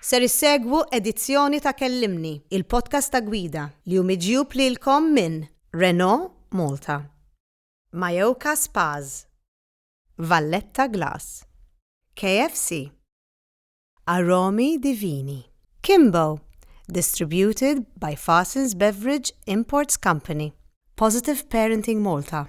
Ser issegwu edizzjoni ta' Kellimni, il-podcast ta' gwida, li hu miġjub lilkom minn Renault Malta, Mayoka Spas, Valletta Glass, KFC, Aromi Divini, Kimbo, distributed by Fassins Beverage Imports Company, Positive Parenting Malta,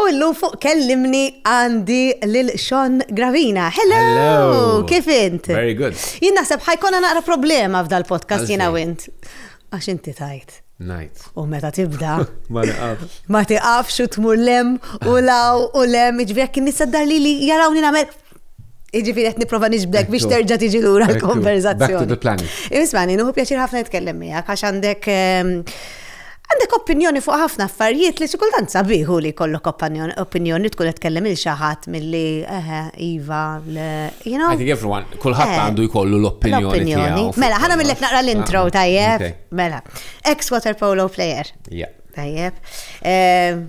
U illum fuq kellimni għandi lil Sean Gravina. Hello! Hello! Kif int? Very good. Jien naħseb ħajkonna naqra problema f'dal podcast jiena wint. Għax inti tajt. Najt. U meta tibda. Ma tiqafx. Ma tiqafx u tmur lem u law u lem, ġvijak kien nisaddar li li jarawni namel. Iġifiri qed nipprova niġbdek biex terġa' tiġi lura l-konverzazzjoni. Back to the planet. Ismani, nuhu pjaċir ħafna nitkellem miegħek għax għandek ehm, għandek opinjoni fuq ħafna affarijiet li xikultant sabiħu li kollok opinjoni tkun qed tkellem il xaħat milli eħe iva you know. I think everyone kulħadd eh, għandu jkollu l-opinjoni tiegħu. Mela, ħana millek naqra l-intro ah, tajjeb. Mela, ex water polo player. Tajjeb. Ehm,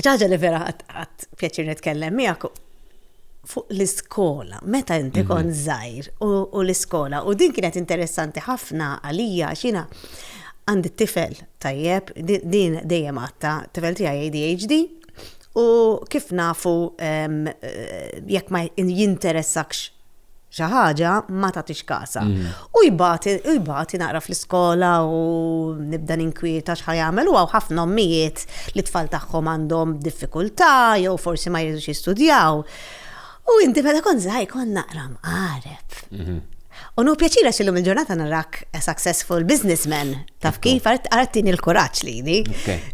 ċaġa li vera għat pjaċir nitkellem miegħek fuq l-iskola, meta inti mhm. kon zaħir u l-iskola, u din kienet interessanti ħafna għalija xina għandi tifel tajjeb, din dejjem għatta, tifel tijaj ADHD, u kif nafu eh, jekk ma jinteressakx xi ħaġa ma tagħtix kasa. U jbati naqra fl-iskola u nibda ninkwieta x'ħa jagħmel u hawn ħafna ommijiet li tfal tagħhom għandhom diffikultà jew forsi ma jridux jistudjaw. U inti meta kont żgħir kont naqra mqareb. Mhm. U nu pjaċira xillum il-ġurnata narak a successful businessman. Taf kif għartini l-kuraċ li jini.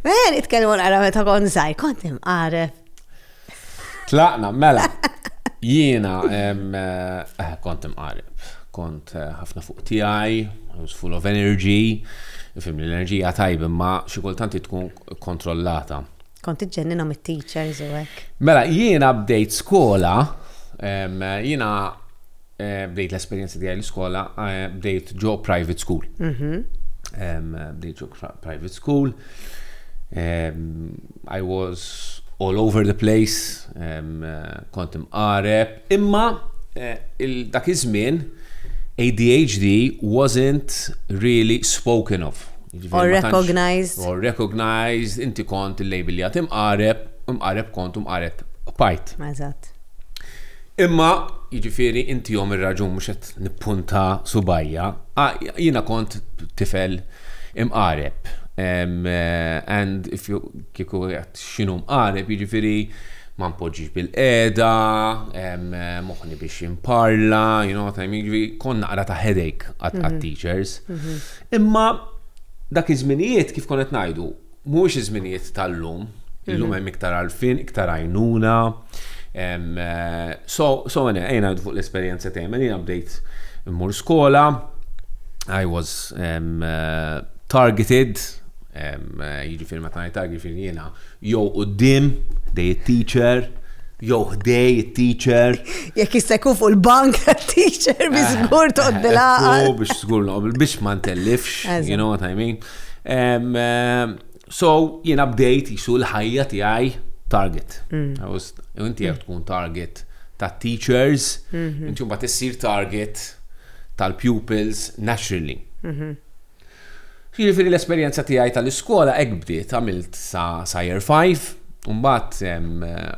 Għen, itkellmu għara meta kont zaħi, kont imqaref. Tlaqna, mela, jiena eh, kont imqarib, kont eh, ħafna fuq tiegħi, I was full of energy, fim l-enerġija tajb imma xi kultant tkun kontrollata. Kont iġġennina mit-teachers u hekk. Mela, jiena bdejt skola, jiena Eh, bdejt l-esperienza tiegħi l-iskola, eh, bdejt ġo private school. Mhm. Bdejt ġo private school. I was all over the place, eh, kont imqareb. Imma dak iż-żmien ADHD wasn't really spoken of. Or recognized. Or recognized, inti kont il-label li għatim imqareb, imqareb kont imqareb pajt. Eżatt. Imma, jiġifieri, intihom ir-raġun mhux qed nippunta subajja, jiena kont tifel imqareb. And if you kieku qed x'inhu mqareb, jiġifieri ma npoġġix bil-qiegħda, moħħni biex imparla, you know what I mean, jiġifieri kont naqra ta' headache għat-teachers. Imma dak iż-żminijiet kif kont qed ngħidu, Mhuwiex iż-żminijiet tal-lum, illum hemm iktar għarfien, iktar għajnuna. So, so ene, ejna fuq l-esperjenza tiegħi, mela jiena bdejt immur skola, I was um, uh, targeted, um, uh, jiġifieri meta ngħid target jiġifieri jiena jew quddiem dej it-teacher, jew ħdej it-teacher. Jekk jista' jkun fuq il-bank teacher bi żgur toqgħod bilgħaqal. Biex żgur biex ma ntellifx, you know what I mean. Um, um, so, jiena bdejt jisu l-ħajja tiegħi target. Mm. Inti jek tkun target ta' teachers, mhm. inti mbagħad issir target tal-pupils naturally. Mhm. Jiġifieri l-esperjenza tiegħi tal-iskola hekk bdiet għamilt sa sa year 5, mbagħad eh,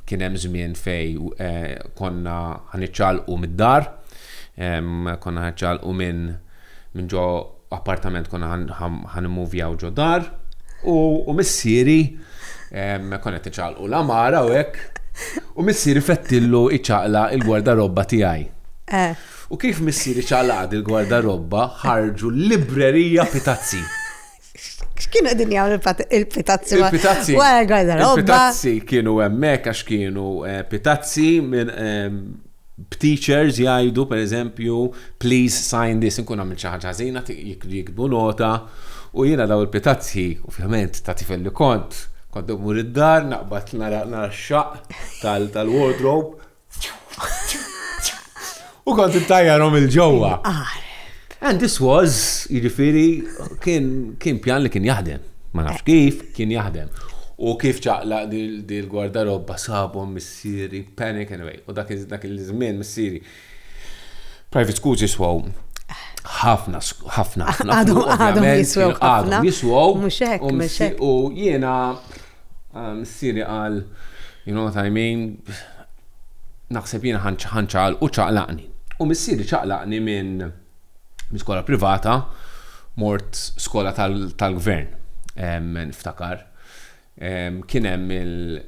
kien hemm żmien fej eh, konna ħaniċċalqu mid-dar, konna ħaniċċalqu minn minn ġo appartament konna ħan immuvjaw ġo dar u missieri konna qed iċaqlqu l-amara u hekk u missieri fettillu iċaqla il-gwardarobba tiegħi. Eh. U kif missieri ċaqlaq il-gwardarobba ħarġu l-librerija pitazzi. X'kienu qegħdin jagħmlu il-pitazzi? Il-pitazzi. Wara l-garderoba. Il-pitazzi kienu hemmhekk għax kienu eh, pitazzi minn ehm, b'teachers jgħidu per eżempju, please sign this, nkun għamil xi ħaġa ħażina jikbu nota u jiena daw il-pitazzi, ovvjament ta' tifel li kont, kont mmur id-dar, naqbad nara x-xaq tal-wardrobe, U kont intajjarhom il-ġewwa. And this was, jiġifieri, kien pjan li kien jaħdem. Ma nafx kif, kien jaħdem. U kif ċaqla dil-gwardarobba sabhom missieri, panic anyway. U dak il-żmien missieri. Private schools jiswaw ħafna, ħafna, ħafna. Għadhom jiswaw. Għadhom jiswaw. U jiena Missieri qal, You know what I mean, naħseb jiena ħanċaqal u ċaqlaqni. U missieri ċaqlaqni minn min skola privata mort skola tal-gvern. Tal Niftakar kien hemm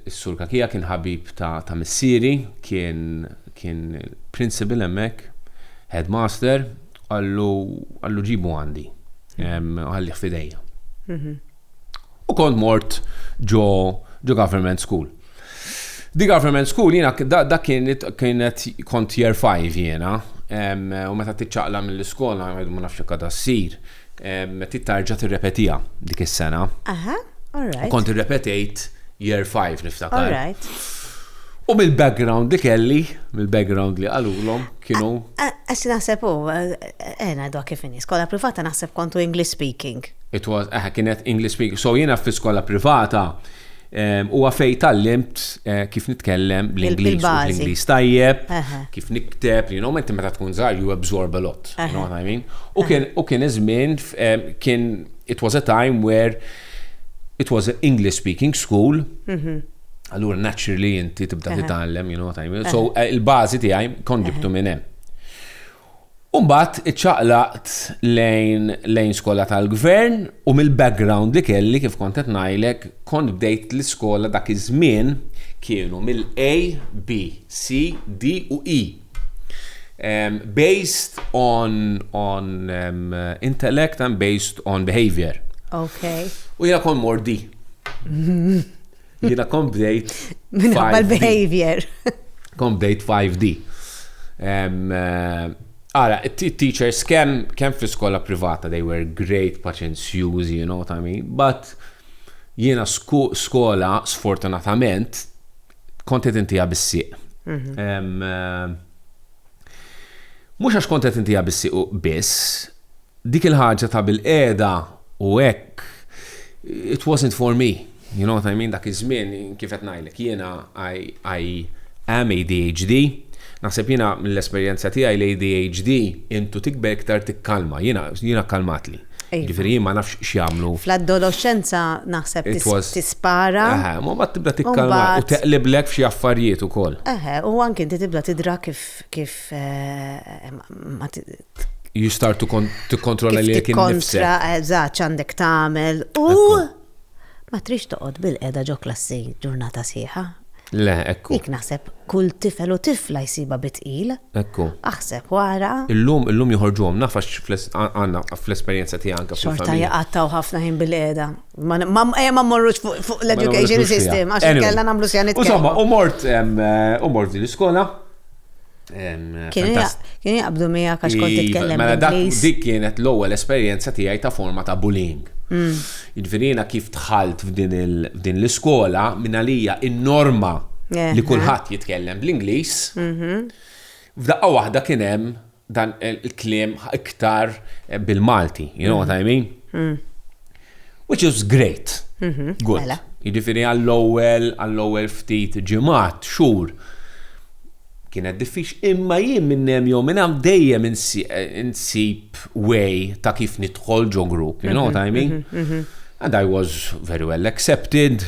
is-sur Kakija kien ħabib ta', ta missieri, kien kien principal hemmhekk, headmaster, qallu ġibu għandi, ħallih f'idejja. U kont mort ġo ġo government school. Di government school jiena dak kienet kienet kont year 5 jiena u meta tiċċaqla mill-iskola ma nafx jekk għadha ssir tittarġa tirrepetija dik is-sena. Aha, alright. U kont irrepetejt year 5 niftakar. Alright. U mill-background li kelli, mill-background li għalulhom kienu. Għax naħseb u, ena dwa kif inni, skola privata naħseb kontu English speaking. It was, aha, kienet English speaking. So jiena fi skola privata ehm, huwa um, fej tallimt uh, kif nitkellem bl-Ingliż, bl-Ingliż tajjeb, uh -huh. kif nikteb, li you know, meta tkun żgħar you absorb a lot, uh -huh. you know what I mean? U uh -huh. kien iż-żmien um, kien it was a time where it was an English speaking school. Uh mhm. -huh. Allura naturally inti tibda uh -huh. titgħallem, you know what I mean? Uh -huh. So eh, il-bażi tiegħi kont ġibtu uh -huh. minn hemm. U mbagħad iċċaqlaqt lejn lejn skola tal-gvern u mill-background li kelli kif kont qed ngħidlek kont bdejt l-iskola dak iż-żmien kienu mill-A, B, C, D u E. Um, based on, on um, intellect and based on behavior. Okay. U jena kon mordi. Jiena kont bdejt. Minħabba l-behavior. Kont bdejt 5D. Ara, teachers kemm kemm fl-iskola privata they were great paċenzjużi, you know what I mean, but jiena skola sfortunatament kont qed intija bis-sieq. Mhm. Mhux għax kont qed intija bis-sieq biss, Dik il-ħaġa ta' bilqiegħda u hekk, it wasn't for me, you know what I mean, dak iż-żmien kif qed ngħidlek jiena I am ADHD, naħseb jiena mill-esperjenza tiegħi l-ADHD intu tikber iktar tikkalma, jiena kkalmatli. Jiġifieri jien ma nafx x'jagħmlu. Fl-adoloxxenza naħseb tispara. Eħe, u mbagħad tibda tikkalma u teqliblek f'xi affarijiet ukoll. Eħe, u anke inti tibda tidra kif You start to tikkontrolla li jekk innifsek. Eżatt, għandek tagħmel u ma trix toqgħod bil-qeda ġo klassi ġurnata sieħa. Le, ekku. Jek naħseb kull tifel u tifla jsiba bitqil. Ekku. Aħseb wara. Illum, illum joħorġuhom, nafax għanna fl-esperienza ti għanka. Xorta jgħattaw ħafna ħin bil-eda. Ma eh, morrux fuq l-education system, għax kella namlu sjanit. Insomma, u mort, eh, u mort din l-iskola, Kien jaqbdu mija għax kont titkellem. Mela dak dik kienet l-ewwel esperjenza tiegħi ta' forma ta' bullying. Mm. Jiġifieri kif tħalt f'din l-iskola minn għalija in-norma li kulħadd jitkellem bl-Ingliż. Mhm. F'daqqa waħda kien hemm dan il-kliem iktar bil-Malti, you know what I mean? Mm. Which is great. Mhm. Good. Mela. Jiġifieri għall-ewwel, għall-ewwel ftit ġimgħat, xhur. Kienet diffiċ, imma jien minn hemm jew minn hemm dejjem insi- insib way ta' kif nidħol ġo grupp, you know what I mean? And I was very well accepted.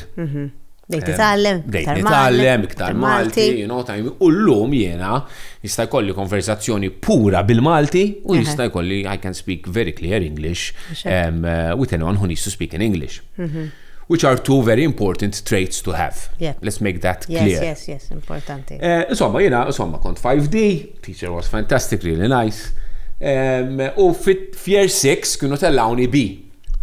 Bdejt eh, nitgħallem, bdejt nitgħallem iktar Malti, you know, time. U llum jiena jista' jkolli konversazzjoni pura bil-Malti u jista' jkolli I can speak very clear English um, uh, with anyone who needs to speak in English. Mhm. Which are two very important traits to have. Yeah. Let's make that clear. Yes, yes, yes, importanti. Eh, insomma, jiena, insomma, kont 5D, teacher was fantastic, really nice. Um, u fit-Fier 6 kienu tellawni B.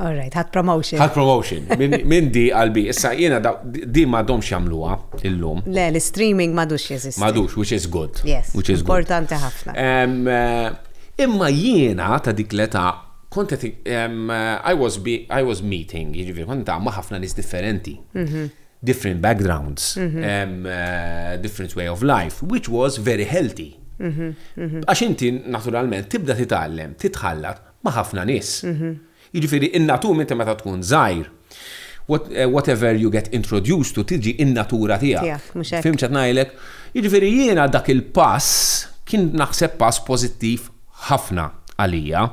All right, ħat promotion. Ħat promotion, minn di għalbi. Issa jena di ma dom xamluwa illum. Le, l-streaming madux jeżisti. Madux, which is good. Yes, which is importanti ħafna. Eh, imma jiena ta' dik l-età kont qed I was I was meeting, jiġifieri kont ma' ħafna nies differenti. Mhm. Different backgrounds, mhm. eh, different way of life, which was very healthy. Mhm, Għax inti naturalment tibda titgħallem, titħallat ma' ħafna nies. Jiġifieri in-natur inti meta tkun żgħir, whatever you get introduced to tiġi in-natura tiegħek. Fhimt x'qed ngħidlek? Jiġifieri jiena dak il-pass kien naħseb pass pożittiv ħafna għalija.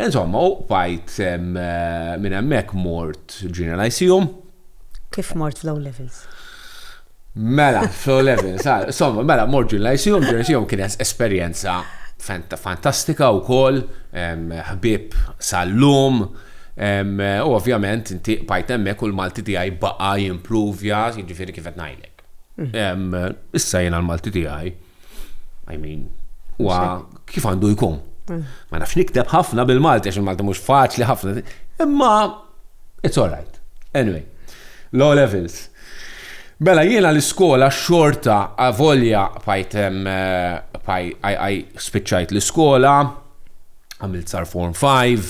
Insomma, u bqajt minn hemmhekk mort Ġiena Lyceum. Kif mort fl-O levels? Mela, fl-O levels, ah, somma, mela, mort ġun l-ICU, ġun l-ICU kien esperienza fantastika u kol, ħbib sal-lum, u ovvjament inti bajt emmek u l-Malti tijaj baqa jimprovja, jġifiri kifet najlek. Issa jiena l-Malti tiegħi, I mean, huwa kif għandu jkun. Eh. Ma nafx nikteb ħafna bil-Malti għax il-Malti mhux faċli ħafna. Imma it's all right. Anyway, low levels. Bella jiena l-iskola xorta avolja fajt għaj spiċċajt l-iskola, għamilt sar form 5,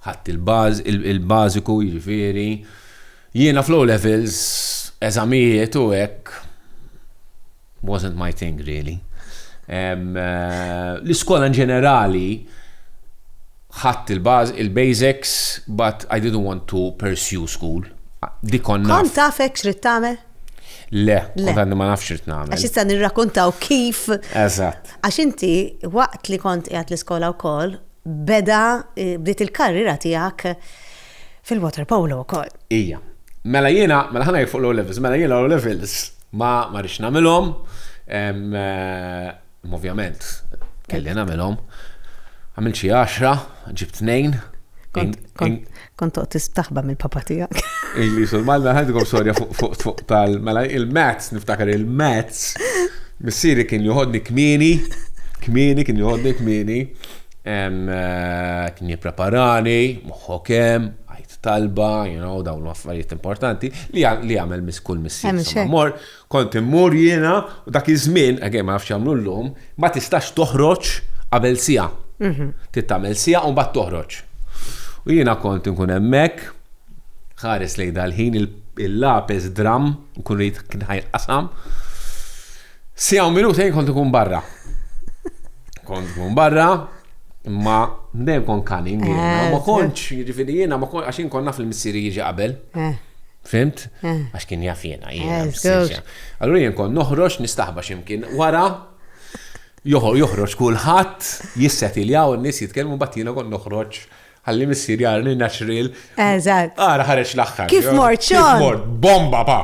ħadd il-baż, il-bażiku jiġifieri. Jiena fl-O Levels, eżamijiet u hekk, wasn't my thing really. L-iskola in ġenerali ħadt il-basics but I didn't want to pursue school. Dik kont naf. Kont taf hekk x'rid tagħmel? Le, kont għadni ma nafx x'rid nagħmel. Għax issa nirrakuntaw kif. Eżatt. Għax inti waqt li kont qiegħed l-iskola wkoll beda bdiet il-karriera tiegħek fil-waterpolo wkoll. Ija. Mela jiena, mela ħa ngħid fuq l-O Levels, mela jiena l-O Levels ma ma rridx nagħmilhom, imma ovvjament kelli nagħmilhom. Għamilt xi għaxra, ġibt tnejn. Kont toqgħod tistaħba mill-papa tiegħek. Ili sulmal mela ħajdukom storja fuq fuq tal mela il-mats, niftakar il-mats, missieri kien joħodni kmieni, kmieni kien joħodni kmieni. Hemm, qed nippreparani, moħħok hemm, għid talba, you know, dawn l-affarijiet importanti, li jagħmel mis kull missier. Sa mor, kont immur jiena, u dak iż-żmien, again ma nafx jagħmlu llum, ma tistax toħroġ qabel siegħa. Mhm. Trid tagħmel siegħa u mbagħad toħroġ. U jiena kont inkun hemmhekk, ħares lejn dal-ħin il-lapes dramm, nkun rid kien ħajqasam. Sija u minutejn kont ikun barra. Kont ikun barra, imma dejjem kont kanin eh, jiena. Ma kontx, jiġifieri jiena ma kontx għax konna fil-missieri jiġi qabel. Eh. Fimt? Eh. Għax kien jaf jiena jiena. Allura jien kont noħroġ nistaħba x'imkien wara joħroġ kulħadd jissetiljaw n-nies jitkellmu bat jiena kont noħroġ Ħalli missier jara li natural. Eżatt. Ara ħareġ l-aħħar. Kif mort xogħol? Kif mort? Bomba pa!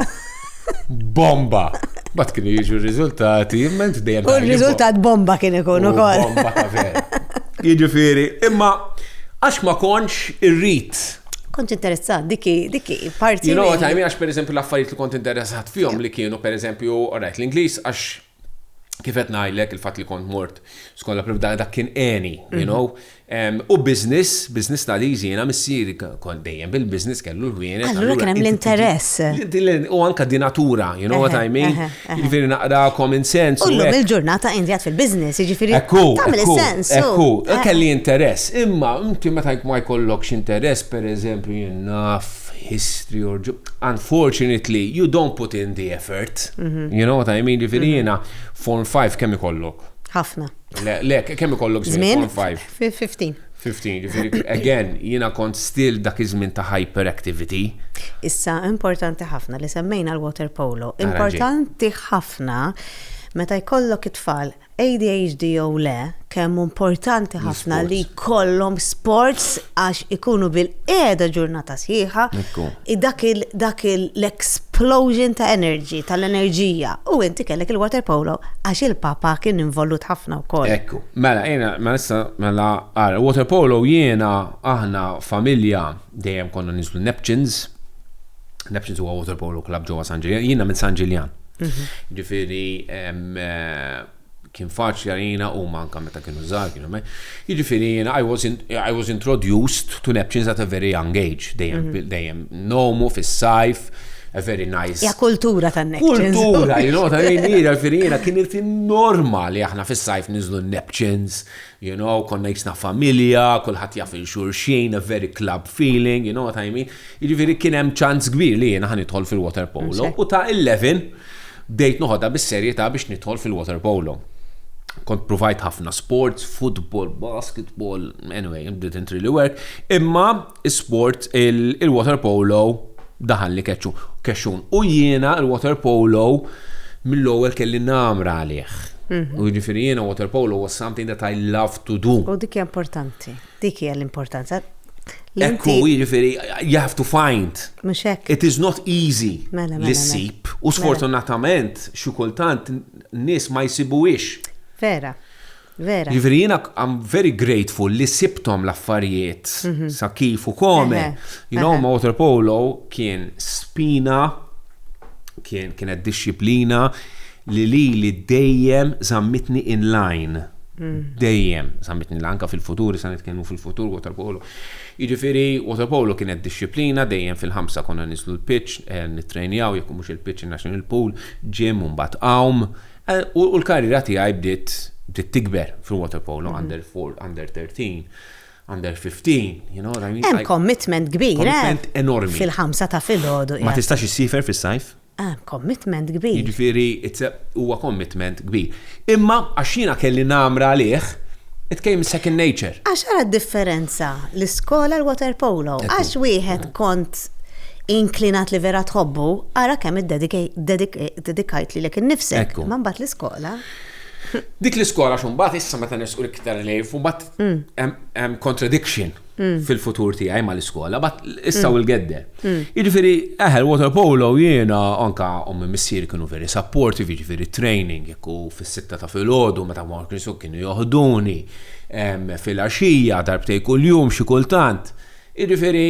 Bomba! Bat kienu jiġu r-riżultati, imment dejjem. U r-riżultat bomba kien ikun ukoll. Bomba ta' vera. Jiġifieri, imma għax ma kontx irrid. Kont interessat, diki, diki, parti. You know what I mean, għax per eżempju l-affarijiet li kont interessat fihom li kienu per eżempju, orajt, l-Ingliż għax kif qed ngħidlek il-fatt li kont mort skont l-approv dak kien għeni, you know. U business, business studies jiena missieri kont dejjem bil-business kellu l-ħwienet. Allura kien hemm l-interess. U anka di natura, you know what I mean? Jiġifieri naqra common sense. U llum il-ġurnata indjat fil-business, jiġifieri tagħmel sens. Ekku, kelli interess. Imma inti meta ma jkollokx interess, pereżempju, jien naf history or unfortunately you don't put in the effort. Mhm. You know what I mean? Ġifiri mhm. jena, form 5 kemm ikollok? Ħafna. Le, le, kemm ikollok żmien? Form 5. 15. 15, ġifiri, again, jena kont still dak iż-żmien ta' hyperactivity. Issa, importanti ħafna li semmejna l-water polo. Importanti ħafna meta jkollok it-tfal ADHD jew le, kemm hu importanti ħafna li jkollhom sports għax ikunu bilqiegħda ġurnata sħiħa, dak l-explosion ta' energy, tal-enerġija. U inti kellek il-water polo għax il-papa kien involut ħafna wkoll. Ekku, mela jiena, mela issa, mela ara, water polo jiena, aħna familja dejjem konna ninżlu Neptunes, Neptunes huwa water polo club ġewwa San Ġiljan, jiena minn San Ġiljan. Ġifieri kien faċli għalina u manka meta kienu żgħar kienu me. Jiġifieri jiena I was, I was introduced to Neptunes at a very young age, dejjem mhm. dejjem nomu fis-sajf, a very nice. Ja kultura ta' Neptunes. Kultura, you know, ta' jiena jiġifieri jiena kien il-fin norma li aħna fis-sajf niżlu Neptunes, You know, konna jisna familja, kulħadd jaf il xulxin, a very club feeling, you know what I mean? Jiġifieri kien hemm ċans kbir li jiena ħanidħol fil-water polo u ta' 11 bdejt noħodha bis-serjetà biex nidħol fil-water polo. Kont provajt ħafna sports, football, basketball, anyway, didn't really work, imma sport il-water polo daħal li kexxun. U jiena il-water polo mill-ewwel kelli namra għalih. Mhm. U ġifieri jiena water polo was something that I love to do. U dik hija importanti. Dik hija l-importanza. Ekku, ġifieri, you have to find. Mhux hekk. It is not easy mela, mela, li mela. sib. U sfortunatament, xi kultant nies ma jsibuhiex. Vera. Vera. Jiġifieri jiena I'm very grateful li sibthom l-affarijiet sa kif u kome. You know, ma' waterpolo kien spina, kienet dixxiplina li lili dejjem żammitni in line. Dejjem żammitni l-anka fil-futur, issa nitkellmu fil-futur waterpolo. Jiġifieri waterpolo kienet dixxiplina, dejjem fil-ħamsa konna niżlu l-pitch, nittrejnjaw jekk mhux il-pitch in-national pool, gym u mbagħad għawm. U l-karriera tiegħi bdiet bdiet tikber fil-waterpolo mhm. under 4, under 13, under 15, you know what I mean? Hemm commitment kbir, eh? Commitment enormi. Fil-ħamsa ta' filgħodu. Ma tistax issifer fis-sajf? Ah, commitment kbir. Jiġifieri huwa commitment kbir. Imma għax jiena kelli namra għalih, it came second nature. Għax għara differenza l-iskola l-water polo, għax wieħed kont inklinat li vera tħobbu, għara kemm id-dedik dedikajt li lek innifsek, ma mbagħad l-iskola. Dik l-iskola xumbat issa meta nisqu iktar li fubat mm. hemm contradiction mm. fil-futur tiegħi ma l-iskola, bat issa mm. u l-gedde. Jiġifieri eħel water polo jiena anka ommi missier kienu veri supportive, jiġifieri training jekk fis-sitta ta' filgħodu meta ma kienu joħduni fil-għaxija darbtej kuljum xi kultant. Jiġifieri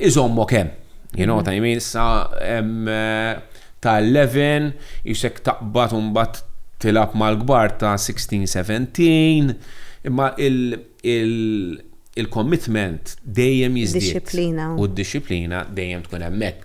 iżommok hemm. You know what I mean? Sa hemm eh, ta' 11, jisek taqbad u mbagħad tilab mal-kbar ta' 16-17, imma il-commitment dejjem jiżdied. U d-disciplina dejjem tkun hemmhekk.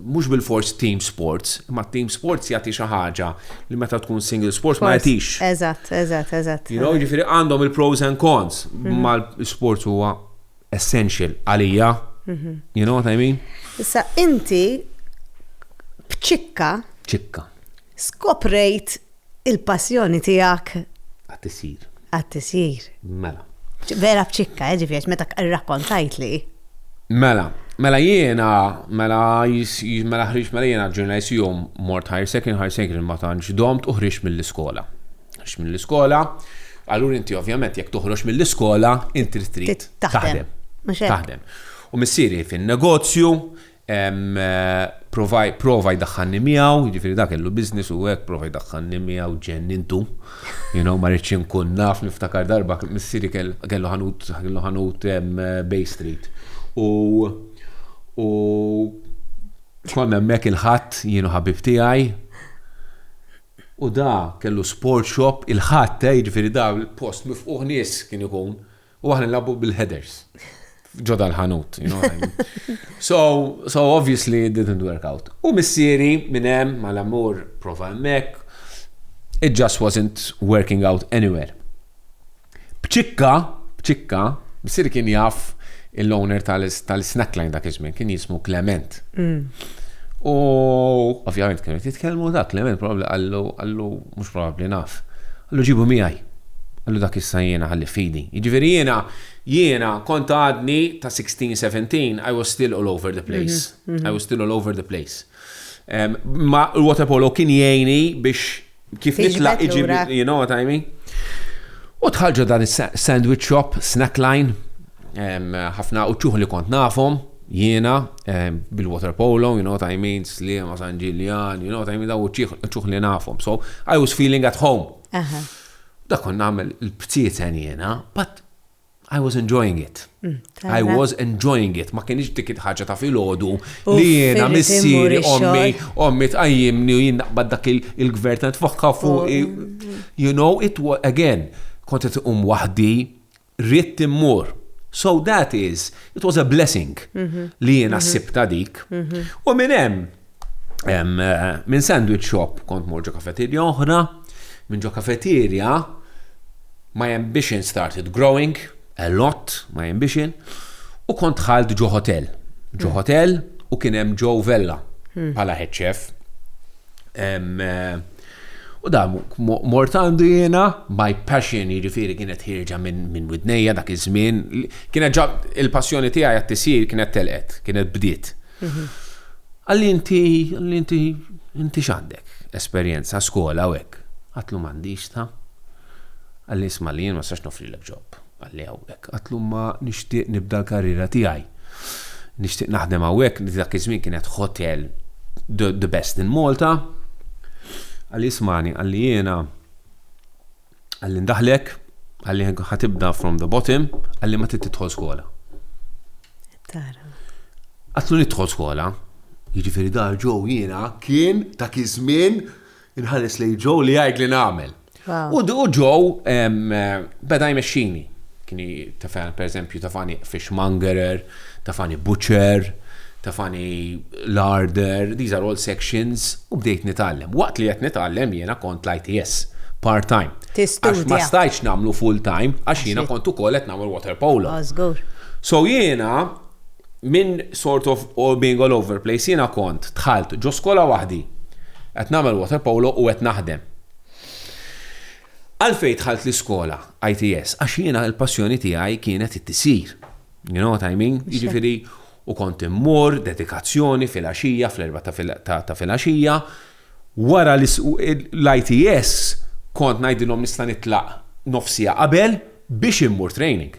Mhux bilfors team sports, imma team sports jagħti xi ħaġa li meta tkun single sports ma jagħtix. Eżatt, eżatt, eżatt. You know, jiġifieri għandhom il-pros and cons, mhm. ma l-sports huwa essential għalija. Mhm. You know what I mean? Issa inti b'ċikka. Ċikka. Skoprejt Il-passjoni tiegħek. Għat-tisjir. Għat-tisjir. Mela. Vera bċikka, eh, ġifiex, meta rrakkontajt li. Mela, mela jiena, mela mela ħriġ mela jiena ġurnalist jum mort higher second, higher second ma tantx domt u ħriġ mill-iskola. Ħriġ mill-iskola, allura inti ovvjament jekk toħroġ mill-iskola, inti trid taħdem. Taħdem. U missieri fin-negozju, Prova jdaħħanni miegħu, jiġifieri dak kellu business u hekk prova jdaħħanni miegħu ġennintu. You know, ma rridx inkun naf niftakar darba missieri kellu ħanut kellu ħanut Bay Street. U u konna hemmhekk il-ħadd jienu ħabib tiegħi. U da kellu sport shop il-ħadd, eh, jiġifieri da l-post mifquħ nies kien ikun. U aħna nilagħbu bil-headers. Ġoda l-ħanut, you know what I mean. So, so obviously it didn't work out. U missieri minn hemm mal-amur prova hemmhekk. It just wasn't working out anywhere. Bċikka, bċikka, missieri kien jaf il-owner tal-snackline dak iż-żmien kien jismu Clement. Mm. U ovvjament kienu jitkellmu dak Clement probabli għallu għallu Mhux probabbli, naf. Qallu ġibu miegħi. Qallu dak issa jiena ħalli f'idi. Jiġifieri jiena, jiena kont għadni ta' sixteen, seventeen, I was still all over the place. I was still all over the place. Ma l-waterpolo kien jgħini biex kif nitlaq iġib, you know what I mean? U dħalġa dan is-sandwich shop, snack line, ħafna uċċuħ li kont nafhom, jiena, bil-water polo, you know what I mean, Slima, San Ġiljan, you know what I mean, da uċċuħ li nafhom. So, I was feeling at home. Da kont nagħmel il-btieten jiena, but I was enjoying it. Mm, I was enjoying it. Ma kienx dik il-ħaġa ta' filgħodu li jiena missieri ommi ommi tqajjimni u jien naqbad dak il-gvern ta' tfokka fuq. You know, it was again, kont qed iqum waħdi Ridt immur. So that is, it was a blessing mhm. li jiena mhm. sibta dik. Mhm. U minn hemm, eh, minn sandwich shop kont mor ġo kafeterja oħra, minn ġo kafeterja my ambition started growing a lot, my ambition, u kont ħalt ġo hotel. Ġo hotel u kien hemm Joe Vella pala head chef. Eh, U da mort għandu jiena, my passion, jiġifieri kienet ħirġa minn widnejja dak iż-żmien, kienet ġab il-passjoni tiegħi għat-tisjir kienet telqet, kienet bdiet. Mhm. Għalli inti, għalli inti, inti x'għandek esperjenza skola u hekk. Għatlu m'għandix ta' għalli isma' li jien ma sax nofri l-ġob. Qalli hawnhekk. Għadtlu ma nixtieq nibda l-karriera tiegħi. Nixtieq naħdem hawnhekk li dak iż-żmien kienet hotel the, the best in Malta. Qalli ismani, qalli jiena qalli ndaħlek, qalli ħatibda from the bottom, qalli ma trid tidħol skola. Tara. Għatlu nidħol skola, jiġifieri dar ġew jiena kien dak iż-żmien Inħares lejn Joe li jgħid li nagħmel. U Joe beda jmexxini. Kien tafani pereżempju tafani fishmongerer, tafani butcher, tafani larder, these are all sections u bdejt nitgħallem. Waqt li qed nitgħallem jiena kont l-ITS part-time. Għax ma stajtx nagħmlu full-time għax jiena kont ukoll qed nagħmel water polo. So jiena Minn sort of all being all over place jiena kont dħalt ġo skola waħdi qed nagħmel water polo u qed naħdem. Għalfejn dħalt l-iskola ITS? Għax jiena l-passjoni tiegħi kienet it-tisir. You know what I mean? Jiġifieri u kont immur, dedikazzjoni, filgħaxija, fl-erba' ta' filgħaxija, Wara l-ITS kont ngħidilhom nista' nitlaq nofs siegħa qabel biex immur training.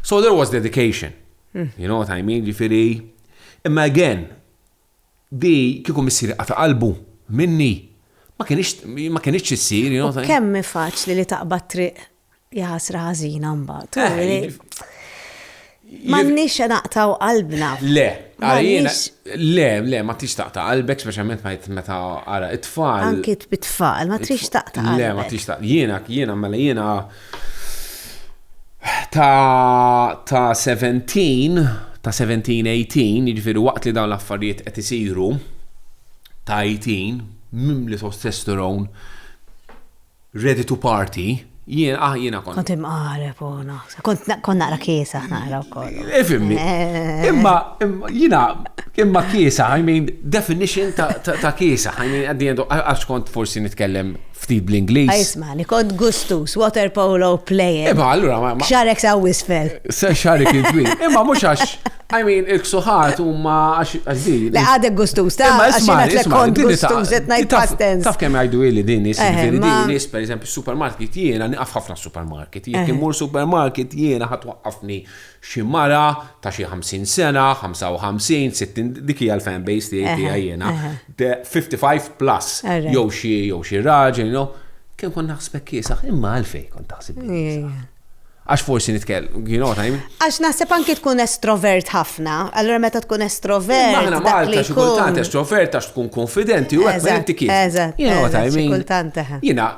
So there was dedication. You know what I mean, ġifiri. Imma again, di kiku missiri qata qalbu minni, ma kienx issir, you know what I mean. Kemm faċli li taqbad triq Jaħasra ħażina mbagħad. Eh, Mannix naqtaw qalbna. Le, għalina, le, le, ma tix taqta qalbek, specialment ma jt meta għara it-tfal. Anki bit-tfal, ma tix taqta qalbek. Le, ma tix taqta, jiena, jiena, mela jiena ta' ta' 17, ta' 17-18, jiġifieri waqt li dawn l-affarijiet qed isiru ta' 18, mimli testosterone ready to party, jien, ah, jiena kont. Kont imqareb, u naħseb. Kont na- kont naqra kiesa naqra wkoll. Ifimni. Eh. Imma, imma, jina, imma kiesa, I mean, definition ta', ta, ta kiesa, I mean, at the end, of- għax kont forsi nitkellem ftit bl-Inglis. Isma, li kont gustus, water polo player. Imma, allura, ma, ma, Xarek sa' wisfel. se xarik il-twil. Imma mux għax, I mean, il-ksuħat huma għax di. Le għadek gustuż, ta' għax għadek eh, kont gustuż, qed ngħid past tense. Taf kemm jgħidu li din nies, din nies, per eżempju, supermarket jiena niqaf ħafna supermarket. Jekk eh. imur supermarket jiena ħadd waqqafni xi mara ta' xi 50 sena, 55, 60, dik hija l-fan base tiegħi tiegħi eh, jiena. 55 plus jew xi jew xi raġel, you know. Kien kon naħsbek kiesaħ, imma għalfej kon taħseb. Għax forsi nitkell, you know what I mean? Għax naħseb anki tkun estrovert ħafna, allora meta tkun estrovert. Aħna Malta xi kultant estrovert għax tkun konfidenti u għek inti kif. Eżatt. You know what I mean? Kultant eħe. Jina,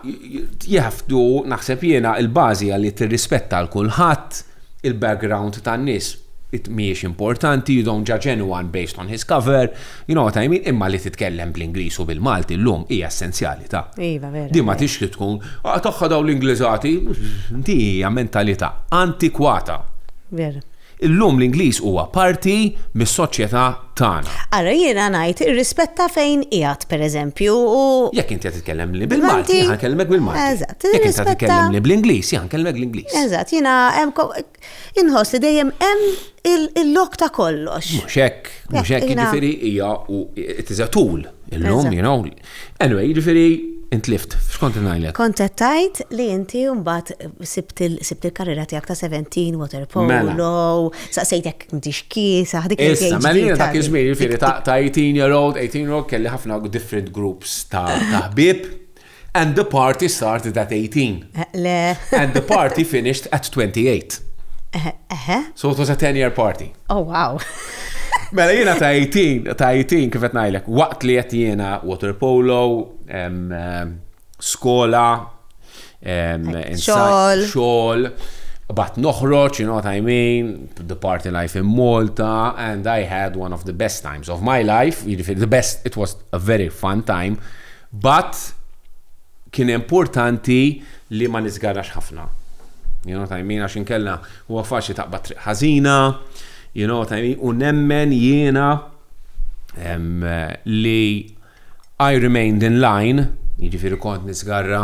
jafdu naħseb jena il-bazi għalli t-rispetta l-kulħat, il-background tan-nis, it miex importanti, you don't judge anyone based on his cover, You know what I mean? Imma li titkellem bl-Ingliż u bil-Malti llum hija essenzjalità. Iva, vera. Din ma tix li tkun, ah tagħha dawn l-Ingliżati, din hija mentalità antikwata. Vera. Illum l-Ingliż huwa parti mis-soċjetà tagħna. Ara jiena ngħid irrispetta fejn qiegħed, pereżempju, u Jekk inti qed titkellemni bil-Malti, Malti. jiena nkellmek bil-Malti. Eżatt, Jekk inti qed irrispetta- titkellemni bl-Ingliż, jiena nkellmek l-Ingliż. Eżatt, jiena hemm ko- Inħoss li dejjem hemm il-lok ta' kollox. Mhux hekk, mhux hekk, jiġifieri hija u tiża tul illum, you know. Anyway, jiġifieri intlift, x'kont ngħidlek? Kont qed tgħid li inti mbagħad sibt il-karriera tiegħek ta' 17 water polo, mela. saqsejtek inti x'kiesa, dik Issa, mela dak iż-żmien jiġifieri ta' 18 year old, 18 year old kelli ħafna different groups ta' ħbieb. And the party started at 18. Le. And the party finished at 28. Eħe. So it was a 10-year party. Oh, wow. Mela jiena ta' 18, ta' 18 kif qed ngħidlek, waqt li qed jiena water polo, skola, xogħol, xogħol, bat noħroġ, you know what I mean, the party life in Malta, and I had one of the best times of my life, jiġifieri the best, it was a very fun time, But kien importanti li ma niżgarrax ħafna. You know what I mean? Għax inkella huwa faċli taqbad triq ħażina, you know what I mean? U nemmen jiena li I remained in line, jiġifieri kont niżgarra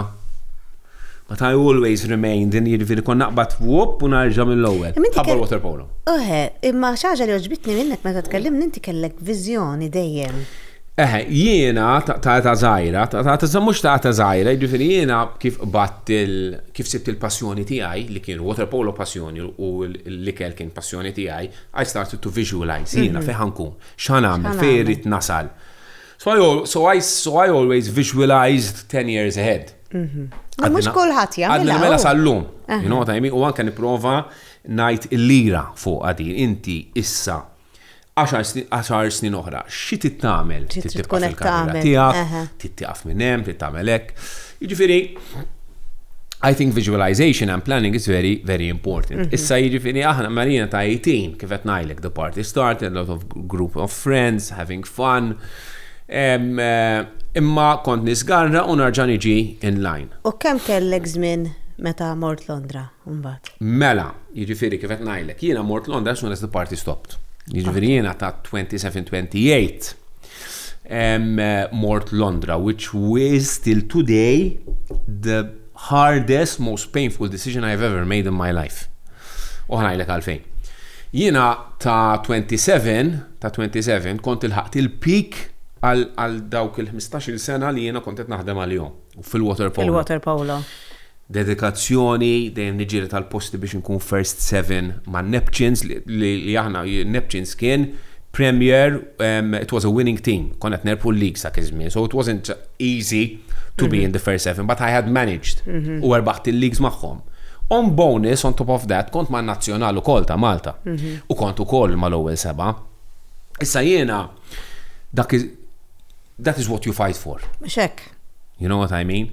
But I always remain, din hi jiġifieri kont naqbad whoop u nerġa' mill-ewwel. Imma inti Qabel kell- waterpolo. Eħe, imma xi ħaġa li għoġbitni minnek meta tkellimni inti kellek viżjoni dejjem. Eħe, jiena ta' ta' età żgħira, ta' ta' ta' mhux ta' età żgħira, jiġifieri jiena kif qbadt il kif sibt il-passjoni tiegħi li kien waterpolo passjoni u l- l-ikel kien passjoni tiegħi, I started to visualise jiena fejn ħa nkun, x'ħa nagħmel, X'ħa fejn nagħmel. irrid nasal. So I al- so I so I always visualised ten years ahead. Mhm. Mhux kulħadd jagħmel. Għadna mela sal-lum. U anke nipprova ngħid il-lira fuq għadi inti issa 10 snin oħra, xi tittamel? Titibqa' fil-karriera tiegħek, tittiqaf minn hemm, tittamel hekk. Jiġifieri, I think visualization and planning is very, very important. Mhm. Issa jiġifieri aħna marina ta' 18, kif qed ngħidlek, the party started, a lot of group of friends, having fun, Imma kont nisgarra u narġa' niġi in line. U kemm kellek żmien meta mort Londra mbagħad? Mela, jiġifieri kif qed ngħidlek, jiena mort Londra as soon as the party stopped. Jiġifieri jiena ta' 27, 28 mort Londra which was till today the hardest, most painful decision I have ever made in my life. U ħanajlek għalfejn. Jiena ta' 27 ta' 27 kont ilħaqt il-peak għal dawk il-ħmistax-il sena li jiena kont qed naħdem għalihom fil-waterpolo. Fil-waterpolo. Dedikazzjoni, dejjem niġġieled għal posti biex inkun first seven ma' Neptunes li aħna Neptunes kien premier, it was a winning team, konna qed nerbħu l-league sa' iż-żmien, so it wasn't easy to be in the first seven, but I had managed mhm. u erbaħt il-leagues magħhom. On bonus, on top of that, kont ma' nazzjonal u kol ta' Malta. Mhm. U kont u kol ma' l-ewel seba. Issa jena, dak is, that is what you fight for. Xek. You know what I mean?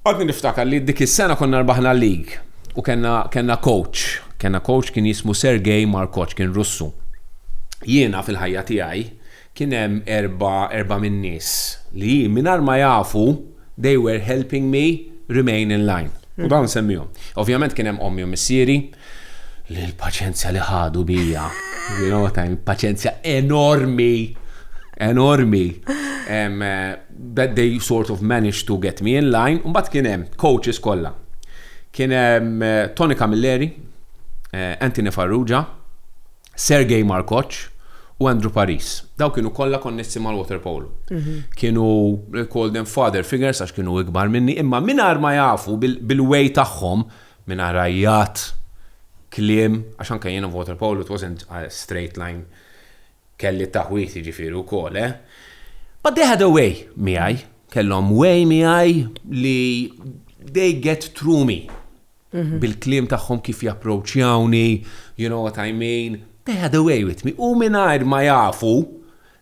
Għadni niftakar li dik is-sena konna rbaħna l-league u kena, kena coach. Kena coach kien jismu Sergej Markoċ, kien russu. Jiena fil-ħajja tiegħi kien hemm erba' erba' min-nies li hi mingħajr ma jafu they were helping me remain in line. U dawn nsemmihom. Ovvjament kien hemm ommi u missieri li l-paċenzja li ħadu bija, you know what I mean, paċenzja enormi, enormi. Um, that they sort of managed to get me in line, u mbagħad kien hemm coaches kollha. Kien hemm eh, Tony Camilleri, eh, Anthony Farrugia, Sergei Markoc u Andrew Paris. Daw kienu kollha konnessi mal-waterpolo. Mhm. Kienu call them father figures għax kienu ikbar minni, imma mingħajr ma jafu bil-way tagħhom mingħajr ajjat, kliem, għax anke jiena waterpolo it wasn't a straight line kelli taħwit jiġifieri wkoll, eh? But they had a way miegħi, kellhom way miegħi li they get through me. bil-kliem tagħhom kif japproċċjawni, you know what I mean, they had a way with me u mingħajr ma jafu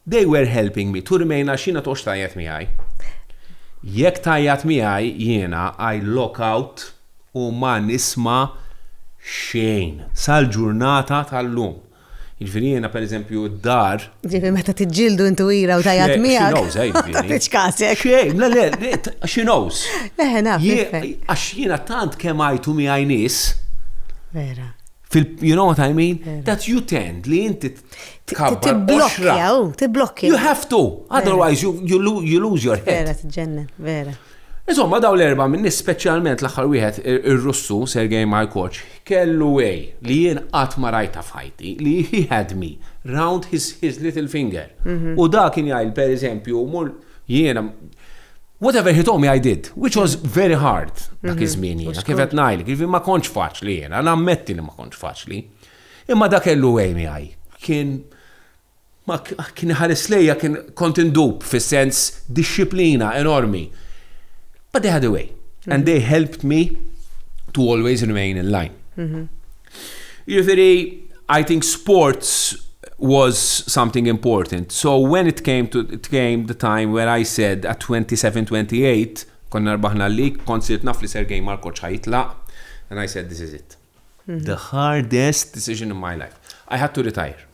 they were helping me to remain għax jiena toqgħodx tgħajjat miegħi. Jekk tgħajjat miegħi jiena I lock out u ma nisma' xejn sal-ġurnata tal-lum. Jiġifieri jiena pereżempju d-dar. Ġifieri meta tiġġieldu int u ira u tajjat miegħek. X'inhos għajbini. Tiċkasek. Xejn, le le, x'inhos. Eħe naf. Għax jiena tant kemm għajtu miegħi nies. Vera. You know what I mean? That you tend li inti tkabbar boxra. Tiblokkja, tiblokkja. You have to, otherwise you, you, you lose your head. Vera, tġennen, vera. Insomma, dawn l-erba' minn nies speċjalment l-aħħar wieħed ir-Russu Sergei Markoch kellu way li jien qatt ma rajtha f'ħajti li he had me round his his little finger. U da kien jgħidli pereżempju mur jiena whatever he told me I did, which was very hard dak iż-żmien jiena kif qed ngħidlek, jiġifieri ma kontx faċli jiena, nammetti li ma kontx faċli. Imma da kellu way miegħi. Kien Ma kien iħares lejja kien kont indub fis-sens dixxiplina enormi. But they had a way and they helped me to always remain in line. Jiġifieri I think sports was something important. So when it came to it came the time where I said at 27, 28 konna rbaħna l-league kont sirt naf li Sergej Markoc ħa jitlaq and I said this is it. The hardest decision in my life. I had to retire.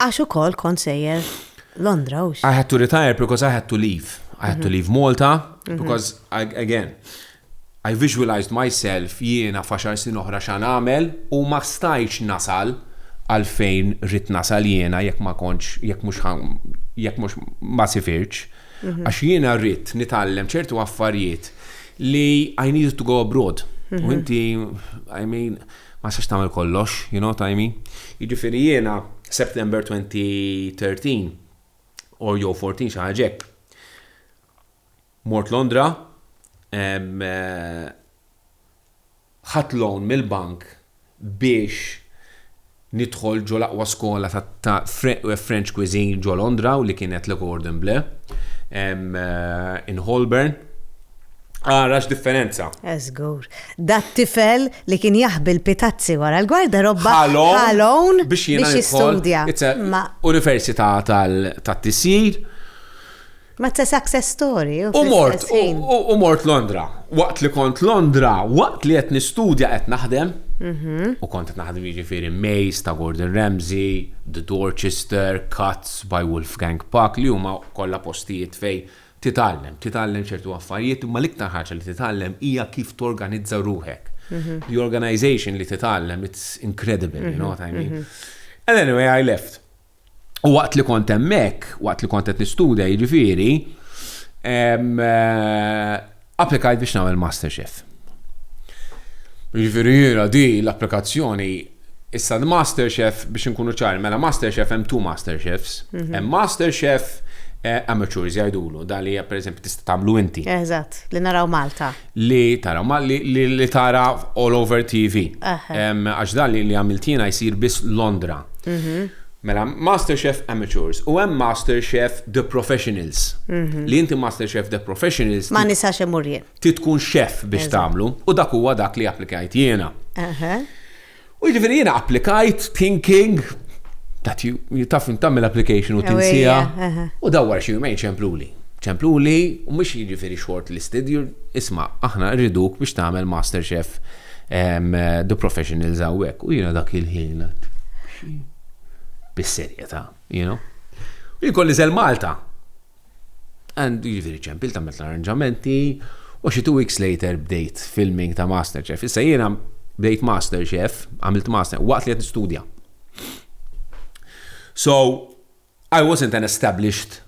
Għax ukoll kont sejjer Londra u I had to retire because I had to leave. I had to mhm. leave Malta mhm. because I, again I visualized myself jiena faxar sin oħra xan għamel u ma stajċ nasal għalfejn rrit nasal jiena jekk ma konċ jekk mux jekk mux ma sifirċ mhm. għax jiena rrit nitallem ċertu affarijiet li I needed to go abroad. U inti, I mean, Ma tistax tagħmel kollox, you know what I mean? Jiġifieri jiena September 2013 or jew 14 xi ħaġa hekk. Mort Londra, ħadd loan mill-bank biex nidħol ġo l-aqwa skola ta' French cuisine ġo Londra u li kienet Le Cordon Bleu in Holborn. Ara x'differenza. Eh żgur. Dat-tifel li kien jaħbi l-pitazzi wara l-gwardarobba ħalon biex jistudja. Università tat-tisjir. Ma it's a success story. U mort, u mort Londra. Waqt li kont Londra, waqt li qed nistudja qed naħdem. Mhm. U kont qed naħdem jiġifieri Maze ta' Gordon Ramsay, The Dorchester, Cuts by Wolfgang Puck li huma kollha postijiet fejn Titgħallem, titgħallem ċertu affarijiet imma l-iktar ħaġa li titgħallem hija kif torganizza ruħek. The organization li titgħallem it's incredible, you know what I mean? And anyway I left. U waqt li kont hemmhekk, waqt li kont qed nistudja jiġifieri, eh, Applikajt biex nagħmel Masterchef. Jiġifieri jiena di l-applikazzjoni issa l-Masterchef biex inkunu ċari, mela Masterchef hemm two Masterchefs. Mhm. Hemm Masterchef eh, amateurs jgħidulu, dan li pereżempju tista' tagħmlu inti. Eżatt, li naraw Malta. Li tara ma li, li, li tara all over TV. Għax dan li, li għamiltina jsir biss Londra. Mhm. Mela, Master Chef Amateurs u hemm Master Chef The Professionals. Li inti Master Chef The Professionals. Ma nistax immur jien. Trid tkun chef biex tagħmlu u dak huwa dak li applikajt jiena. U jiġifieri jiena applikajt thinking that you, taf tagħmel application u tinsiha. U dawn wara xi jumejn ċempluli. Ċempluli u mhux jiġifieri shortlisted, isma' aħna rriduk biex tagħmel Master Chef The professionals għawek, u jina dak il-ħin għat. Bis-serjeta, you know. U jkolli zel Malta. And jiviri ċempil ta' metla arranġamenti, u xi two weeks later bdejt filming ta' Masterchef. Issa jina bdejt Masterchef, għamilt Master, waqt li għed studja. So, I wasn't an established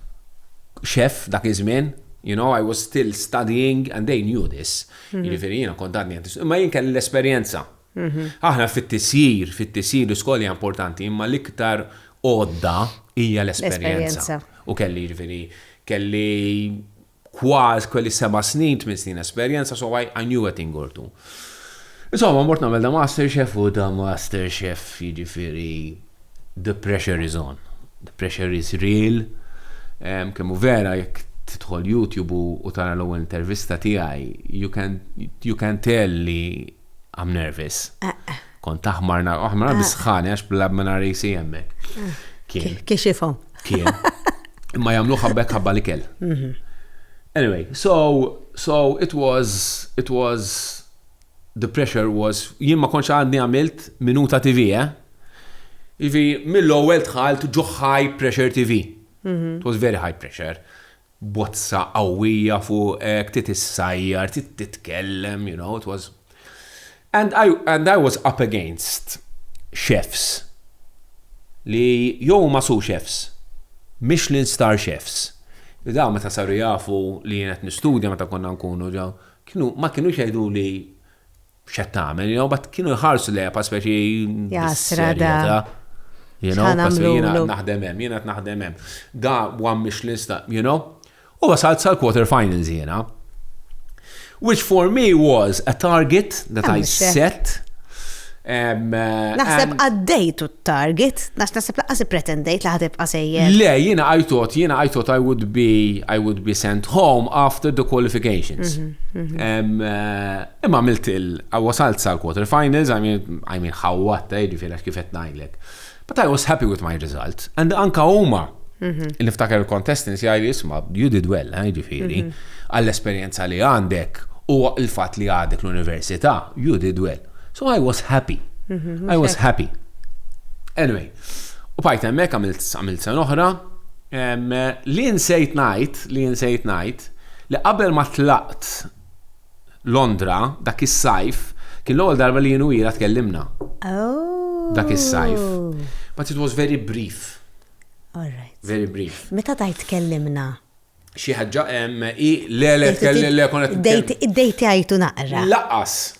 chef dak iż-żmien, you know, I was still studying and they knew this. Mhm. Jiġifieri jiena kont għadni qed imma jien kelli l-esperjenza. Mhm. Aħna fit-tisjir, fit-tisjir l-iskola hija importanti, imma l-iktar għodda hija l-esperjenza. U kelli jiġifieri kelli Kważi kelli seba' snin, tmien snin esperjenza, so I knew a thing or two. Insomma, mort nagħmel da Master Chef u da Master Chef jiġifieri the pressure is on. The pressure is real. Kemm hu vera jekk tidħol YouTube u tara l-ewwel intervista tiegħi, you can tell li I'm nervous. Eh, eh. Kont taħmar nar, aħmar bisħani għax bla minn risi jemmek. Kien. Kixifom. Kien. Imma jamlu ħabbek ħabba li kell. Mhm. Anyway, so, so it was, it was the pressure was, jien ma konċ għadni għamilt minuta TV, eh? Ivi, mill-ewwel tħalt ġo high pressure TV. Mhm. It was very high pressure. bozza qawwija fuqek, trid issajjar, trid titkellem, you know, it was and I, and I was up against chefs li jew ma su chefs, Michelin star chefs. Li daw meta saru jafu li jien qed nistudja meta konna nkunu ġew, kienu ma kienux jgħidu li X'qed tagħmel, jew bat kienu jħarsu lejha pa speċi. Jasra da. You know, jiena naħdem hemm, jiena naħdem hemm. Da one Michelin star, you know? U wasalt sal-quarter finals jiena. Which for me was a target that I set. Eh, naħseb għaddejtu t-target, naħseb laqqas pretendejt li ħatib qasejjer. Le, jiena I thought, jiena I thought I would be, I would be sent home after the qualifications. Mhm, mhm. Eh, Imma għamilt il, wasalt sal quarter finals, I mean, I mean ħawwatta, jiġifieri għax kif qed ngħidlek. But I was happy with my result. And anka huma, niftaker il-contestants jgħidli isma' you did well, eh, jiġifieri, għall-esperjenza li għandek u l-fatt li għadek l-università, you did well. So I was happy. I was happy. Anyway, u bajt hemmhekk għamilt għamilt sen oħra, em, li nsejt ngħid, li nsejt ngħid, li qabel ma tlaqt Londra dak is-sajf kien l-ewwel darba li jien u ila tkellimna. Oh. Dak is-sajf. But it was very brief. All right. Very brief. Meta tajt tkellimna? Xi ħaġa hemm i le le tkellim le konet. Id-dejti għajtu naqra. Laqas.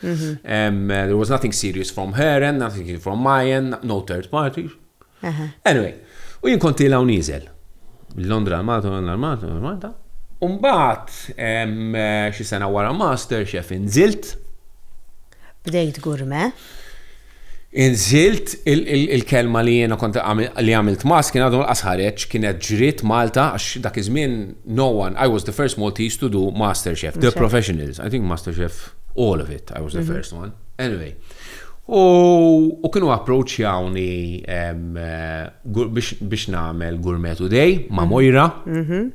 There was nothing serious from her and nothing from my end, no third party. Anyway, u jien konti law nizel. Londra l-Malta, Londra l-Malta, Londra l-Malta. Umbat, xi sena wara master, xef inżilt. Bdejt gurme. Inżilt, il-kelma li jiena kont li għamilt mass kien għadu lanqas ħareġ, kienet ġriet Malta għax dak iż-żmien no one, I was the first Maltese to do Master Chef, the professionals, I think Master Chef all of it, I was the first one. Anyway, u kienu approachjawni biex nagħmel Gourmet Today ma' Moira.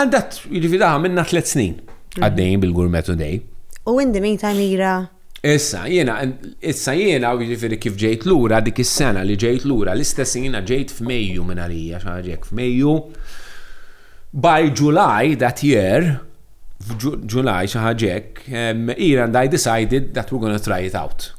Għaddat, jiġifieri daħa minna tliet snin mhm. għaddejjin bil-Gourmet Today. U in the meantime ira. Issa jiena, issa jiena jiġifieri kif ġejt lura dik is-sena li ġejt lura l-istess jiena ġejt f'Mejju minn għalija xaġek f'Mejju. By July that year, f'July xi ħaġek, Iran I decided that we're gonna try it out.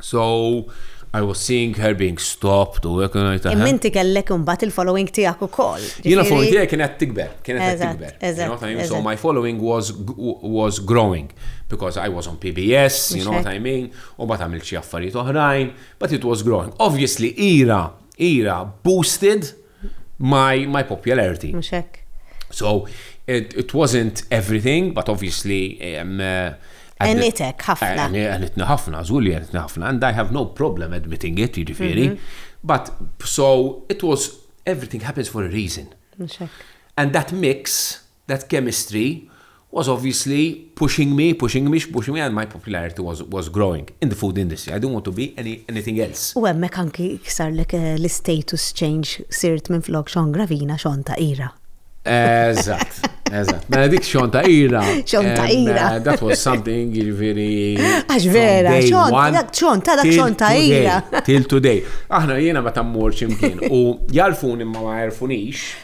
So I was seeing her being stopped u hekk ngħid taħ. Imma inti kellek imbagħad il-following tiegħek ukoll. Jiena following tiegħek kienet tikber, kienet qed tikber. Eżatt. So my following was was growing because I was on PBS, you know what I mean, u mbagħad għamilt xi affarijiet oħrajn, but it was growing. Obviously ira, ira boosted my, my popularity. Mux hekk. So, it, it wasn't everything, but obviously... Um, uh, Għenitek ħafna. Għenitna ħafna, zgulli għenitna ħafna, and I have no problem admitting it, jiġifieri. Mhm. But, so, it was, everything happens for a reason. And that mix That chemistry was obviously pushing me, pushing me, pushing me and my popularity was was growing in the food industry, I don't want to be any anything else. U hemmhekk anki sarlek l-istatus change, sirt minflok Sean Gravina, Sean ta' Ira. Eżatt, eżatt. Mela dik Sean ta' Ira. Sean ta' Ira. Eh, that was something jiġifieri. Għax vera, Sean ta' dak Sean ta' Ira. Till today. Aħna jiena meta mmur x'imkien u jarfuni ma ma jarfunix.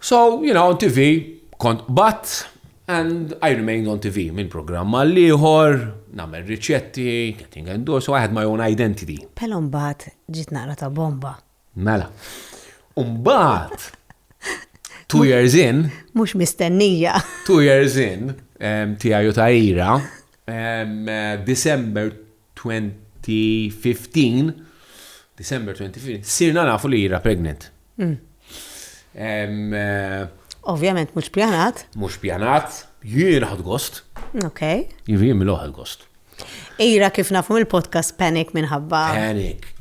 So, you know, on TV kont qbadt and I remained on TV minn programm għal ieħor, nagħmel riċetti, getting endorsed, so I had my own identity. Pelo mbagħad ġiet naqra ta' bomba. Mela. Mbagħad two years in. Mhux mistennija. Two years in, tiegħi u ta' ira, December 2015, December 2015, sirna nafu li jira pregnant. Hmm. Eh, Ovvjament mhux pjanat. Mhux pjanat, jien ħad gost. Ok. Jien mill-oħad gost. Ira kif nafu mill-podcast Panic minħabba. Panic,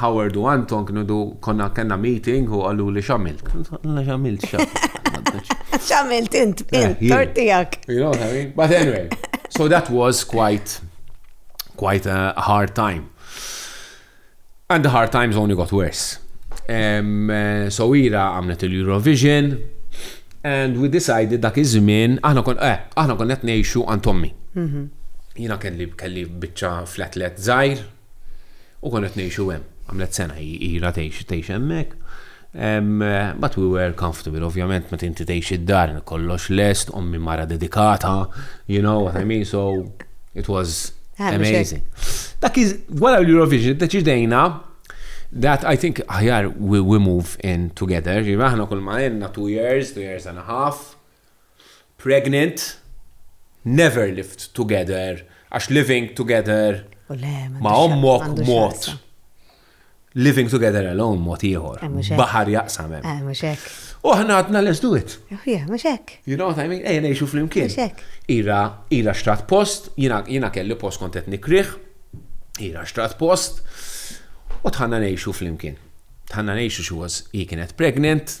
Howard u Anton kienu du konna kellna meeting u qaluli x'għamilt. Għalna x'għamilt X'għamilt int, int, tortijak. You know what I mean? But anyway, so that was quite, quite a hard time. And the hard times only got worse. Um, so ira għamlet il-Eurovision and we decided dak iż-żmien aħna kon eh, aħna kon qed ngħixu għand ommi. Mhm. Jiena kelli kelli biċċa fl-atlet żgħir U konna qed ngħixu hemm. Għamlet sena hi ilha tgħix tgħix hemmhekk. But we were comfortable, ovvjament meta inti tgħix id-dar kollox lest, ommi mara dedikata, you know what I mean, so it was amazing. Dak iż wara l-Eurovision deċidejna that I think aħjar we, we move in together, ġiva aħna kull ma jenna two years, two years and a half, Pregnant, Never lived together, għax living together ma' ommok mod. Living together alone mod ieħor. Eh, Baħar jaqsam hemm. Eh, mhux hekk. U aħna għadna let's do it. Eh, yeah, mhux hekk. You know what I mean? Ejja ngħixu flimkien. Mhux hekk. Ira, ira xtrat post, jiena kelli post kont qed nikriħ, ira xtrat post, u tħanna ngħixu flimkien. Tħanna ngħixu xi was hi kienet pregnant,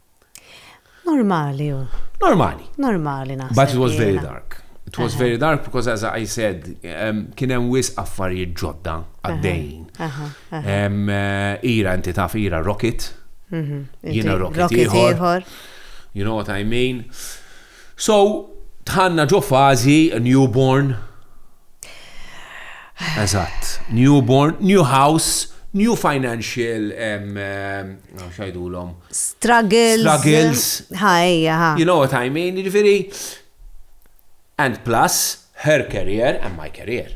Normali hu. Normali. Normali naħseb. But it was very dark. It was very dark because as I said, um, kien hemm wis affarijiet ġodda għaddejjin. Um, uh, ira inti taf ira rocket. Mhm. Jiena rocket ieħor. You know what I mean? So, dħalna ġo fażi newborn. Eżatt, newborn, new house, new financial xajdulhom. Struggles. Struggles. Ħajja, ħa. You know what I mean, ġifieri. And plus, Her career and my career.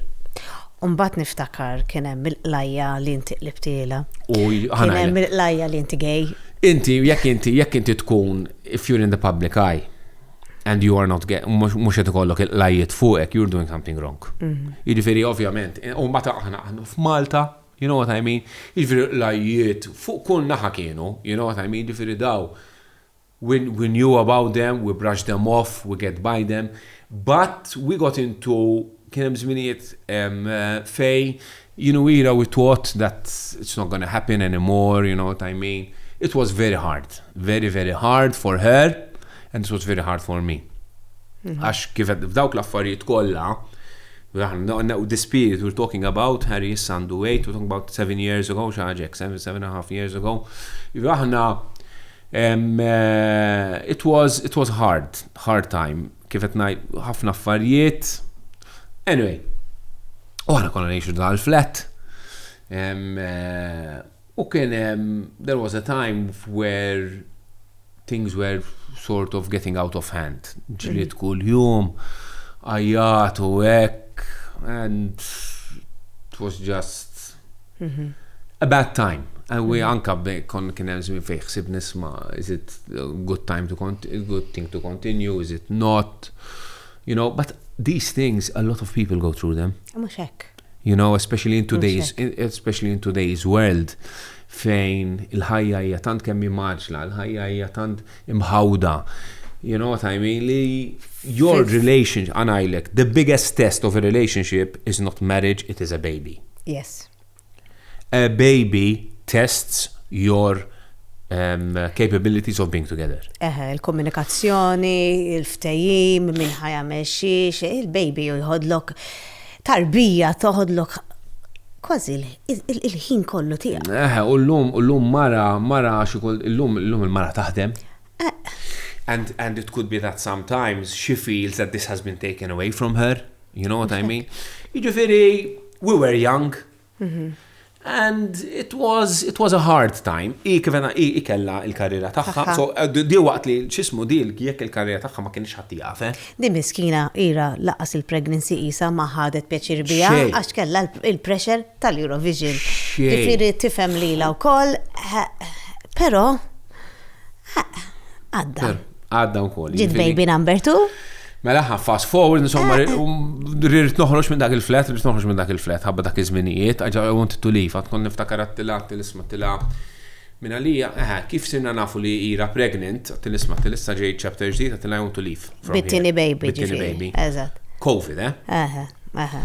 U mbagħad niftakar kien hemm il-qlajja li inti qlibtielha. U Kien hemm il-qlajja li inti gay. Inti, jekk inti, jekk inti tkun, if you're in the public eye, and you are not gay, mhux qed ikollok il-qlajjiet fuqek, you're doing something wrong. Mhm. Jiġifieri ovvjament, eh, u mbagħad aħna aħna f'Malta, you know what I mean? Jiġifieri l-qlajjiet fuq kull naħa kienu, you know what I mean? Jiġifieri daw When we knew about them, we brushed them off, we get by them, but we got into kien hemm żminijiet fejn you know era we thought that it's not gonna happen anymore, you know what I mean. It was very hard, very very hard for her and it was very hard for me. Mhm. Għax kif f'dawk l-affarijiet kollha, this period we're talking about, Harry issa għandu 8, we're talking about 7 years ago, xaġek, 7, 7 and a half years ago, aħna It was, it was hard, hard time, kif qed ngħid ħafna affarijiet. Anyway, u aħna konna ngħixu dal-flat. Eh, u kien there was a time where things were sort of getting out of hand. Ġliet mm. kull jum, għajjat u hekk, and it was just A bad time. U anka kon kien hemm żmien fejn ħsib nisma' is it good time to continue, good thing to continue, is it not? You know, but these things a lot of people go through them. Mhux hekk. You know, especially in today's especially in today's world fejn il-ħajja hija tant kemm maġla, il-ħajja hija tant imħawda, you know what I mean, li your relationship, għanajlek, the biggest test of a relationship is not marriage, it is a baby. Yes. A baby tests your um, capabilities of being together. Eħe, il-komunikazzjoni, il-ftejim, minn ħajja meċiex, il-baby jħodlok Tarbija toħodlok kważi il-ħin kollu tiegħek. Eh, u llum u llum mara mara xi llum llum il-mara taħdem. Eh. And and it could be that sometimes she feels that this has been taken away from her. You know what I mean? Jiġifieri we were young, And it was, it was a hard time. I kif għena, i kella il-karriera tagħha. So, di waqt li xismu di jekk il-karriera tagħha ma kienx ħatti jafe. Di miskina ira laqas il-pregnancy isa ma ħadet pjaċir bija għax kella il-pressure tal-Eurovision. Ġifieri tifhem lilha wkoll, però għadda. Għadda wkoll. Ġid jiġifieri baby number two. Mela ħa fast forward, insomma, eh, eh. um, rrit noħroġ minn dak il-flat, rrit noħroġ minn dak il-flat, ħabba dak iż-żminijiet, għagġa għont t-tulif, għatkun niftakar għattila, t-tilisma t-tila. Minn għalija, eħe, eh, kif sinna nafu li ira pregnant, t-tilisma t-tilissa ġej chapter ġdijt, għattila għont tulif. Bittini baby. Bittini baby. Eżat. Covid, eh? Eħe, eħe.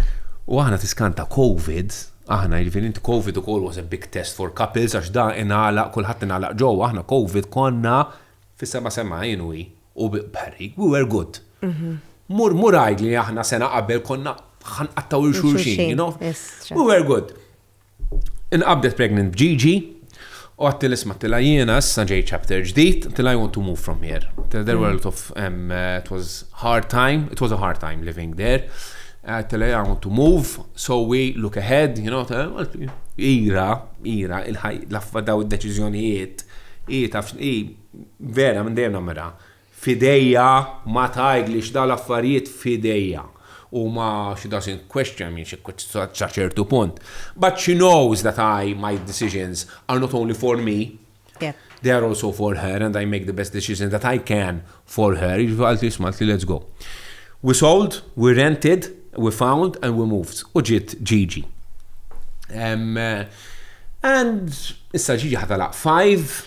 U aħna tiskanta Covid, aħna jirvin int Covid u kol was a big test for couples, għax da inala, kullħat inala ġo, aħna Covid konna fis-sema sema jenu U Barry, we were good. Mur mur għid li aħna sena qabel konna ħanqattaw il-xulxin, you know? We were good. Inqabdet pregnant b'Gigi, u għattil isma tila jiena issa ġej chapter ġdid, tila I want to move from here. Tila there were a lot of, um, uh, it was hard time, it was a hard time living there. Uh, tila I want to move, so we look ahead, you know, ira, ira, il-ħaj, laffa daw id-deċizjonijiet, i taf, i Vera minn dejjem nammirha. F'idejja ma tgħidlix dawn l-affarijiet f'idejja. Huma she doesn't question me xi sa ċertu punt. But she knows that I, my decisions are not only for me, they are also for her and I make the best decisions that I can for her. Jiġifieri qaltli isma' qaltli let's go. We sold, we rented, we found and we moved u ġiet Gigi. And issa Gigi ħa tagħlaq five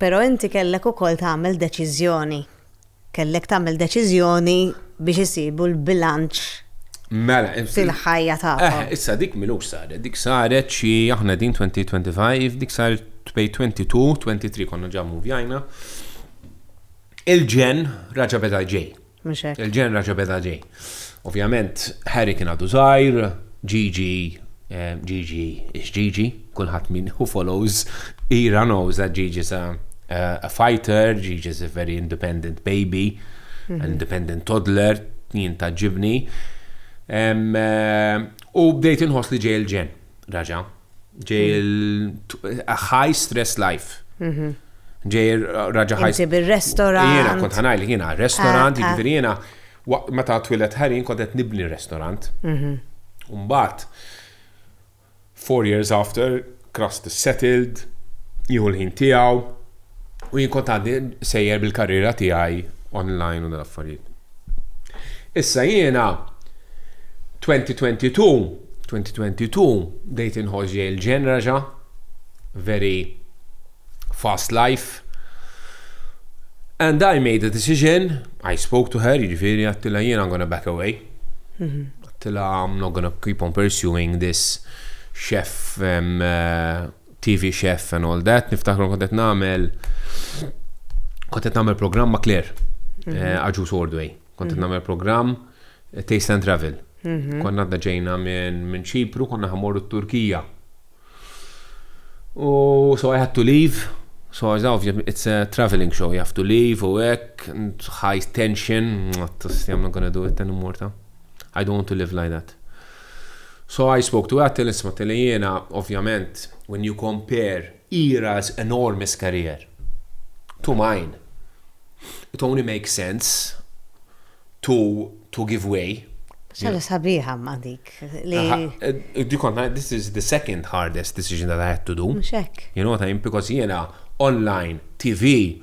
Però inti kellek ukoll tagħmel deċiżjoni. Kellek tagħmel deċiżjoni biex isibu l-bilanċ fil-ħajja tagħkom. Mela, issa dik m'ilux saret. Dik saret xi, aħna qegħdin 2025, dik saret bejn 22, 23 konna ġa muvjajna. Il-ġenn raġa' beda ġej. Mhux hekk. Il-ġenra ġabet Aġej. Ovvjament, Harry kien għadu żgħir, Gigi, Gigi, ix Gigi, kulħadd min who follows Ira knows that Gigi's a, a fighter, Gigi's a very independent baby, an mhm. independent toddler, jien ta' ġibni. U bdejt inħoss li ġej il-ġen. Raġa. Ġej il-high stress life. Mhm. Ġej raġa high. Ġej bil-restaurant. Jena kont ħanaj li jena restaurant, ah, ah. ġifiri jena meta twilet ħarin kont qed nibni restaurant. Mhm. Umbat, four years after, Krust settled, jieħu l-ħin tiegħu, U jien kont għandi sejjer bil-karriera tiegħi online u dal-affarijiet. Issa jiena 2022, 2022 bdejt inħoss ġej il-ġenraġa, very fast life. And I made a decision, I spoke to her, jiġifieri għattila jiena I'm gonna back away. Mhm. Għattila I'm not gonna keep on pursuing this chef um, uh, TV chef and all that, niftakru kont qed nagħmel kont qed nagħmel programm ma' Claire, mhm. eh, Aġu Sordway. Kont qed mhm. nagħmel programm eh, Taste and Travel. Mhm. Konna għadda ġejna minn Ċipru, konna ħamorru t-Turkija. U so I had to leave. So as obviously it's a traveling show, you have to leave u hekk, high tension, what I'm not gonna do it anymore ta. I don't want to live like that. So I spoke to Ethel, int smattili jiena, ovvjament, when you compare Ira's enormous career to mine, it only makes sense to to give way. Xaġa sabiħa imma dik li. Dik kont ngħid this is the second hardest decision that I had to do. Mhux hekk. You know what I mean? Because jiena online, TV,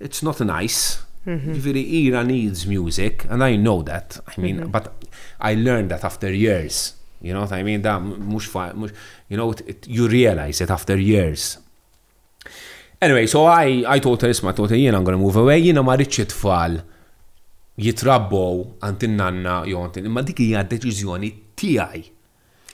It's not nice. Ġifieri Ira needs music and I know that. I mean, but I learned that after years. You know what I mean? Da mhux you know you realize it after years. Anyway, so I, I told her, isma, told her, jiena I'm gonna move away, jiena ma rridx it-tfal jitrabbow għand in-nanna jew għand imma dik hija deċiżjoni tiegħi.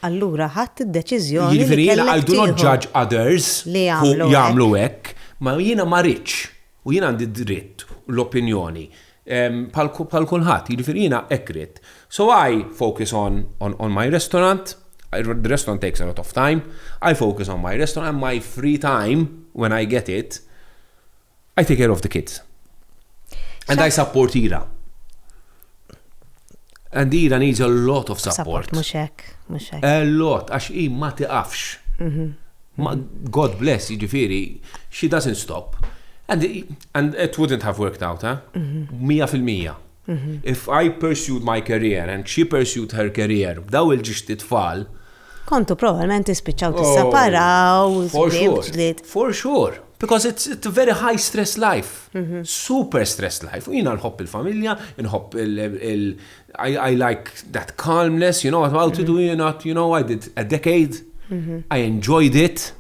Allura ħadt id-deċiżjoni li kellek tieħu. Jiġifieri jiena I do not judge others who jagħmlu hekk, ma jiena ma ridtx u jiena għandi d-dritt u l-opinjoni bħal kulħadd, jiġifieri jiena hekk ridt. So I focus on on my restaurant, the restaurant takes a lot of time, I focus on my restaurant and my free time when I get it, I take care of the kids. And I support Ira. And Ira needs a lot of support. Mux hekk, mux hekk. A lot, għax i ma tiqafx. Mhm. God bless, jiġifieri, she doesn't stop. And, and it wouldn't have worked out, ha? Mhm. Mija fil-mija. If I pursued my career and she pursued her career, b'daw il-ġixti tfal. Kontu probablement tispiċċaw tissaparaw, ġlied. For sure. Because it's, it's a very high stress life. Mm -hmm. Super stress life. U jina nħobb il-familja, nħobb il- I, I like that calmness, you know, about mm -hmm. it, mhm. you know, you know, I did a decade. Mm -hmm. I enjoyed it.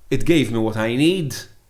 It gave me what I need.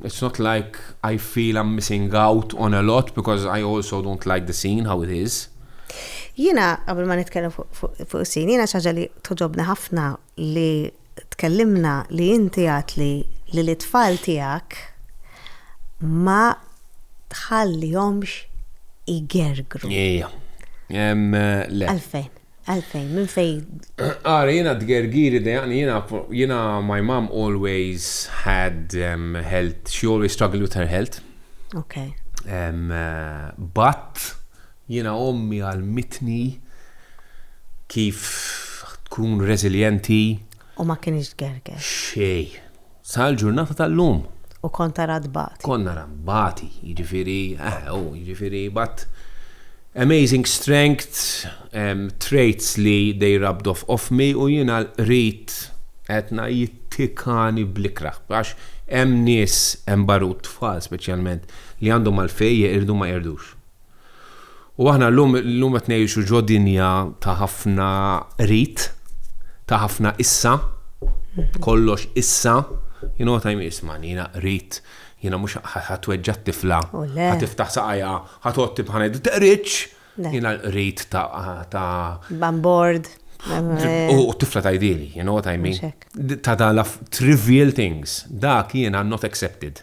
It's not like I feel I'm missing out on a lot because I also don't like the scene how it is. Jina, qabel ma nitkellem fuq is-sin, jina xaġa li toġobni ħafna li tkellimna li inti għat li li l-itfall tijak ma tħallihomx igergru. Ija. Għalfejn? Għalfejn, minn fejn? Ara, jiena d-gergiri dejaqni, jiena my mom always had um, health, she always struggled with her health. Ok. Um, uh, but, jiena ommi għal-mitni kif tkun resilienti. U ma kienx gerger. Xej. Sal-ġurnata tal-lum. U kont ara tbati. Kont nara nbati, jiġifieri, eħe hu, jiġifieri but amazing strength, traits li they rubbed off off me u jiena l-qrid qedna jittikani bl-ikrah. Għax hemm nies, hemm barut tfal speċjalment, li għandhom għalfejn jeqirdu ma jeqirdux. U aħna llum llum qed ngħixu ġo dinja ta' ħafna rit, ta' ħafna issa, kollox issa, you know what I mean, isma' jiena rit, jiena mhux ħatweġġa' t-tifla, oh, ħatiftaħ saqajja, ħatotti bħana d-teqriċ, jiena rit ta' bambord. Eh. U t-tifla ta' idili, you know what I mean? Ta' da' trivial things, dak jiena not accepted.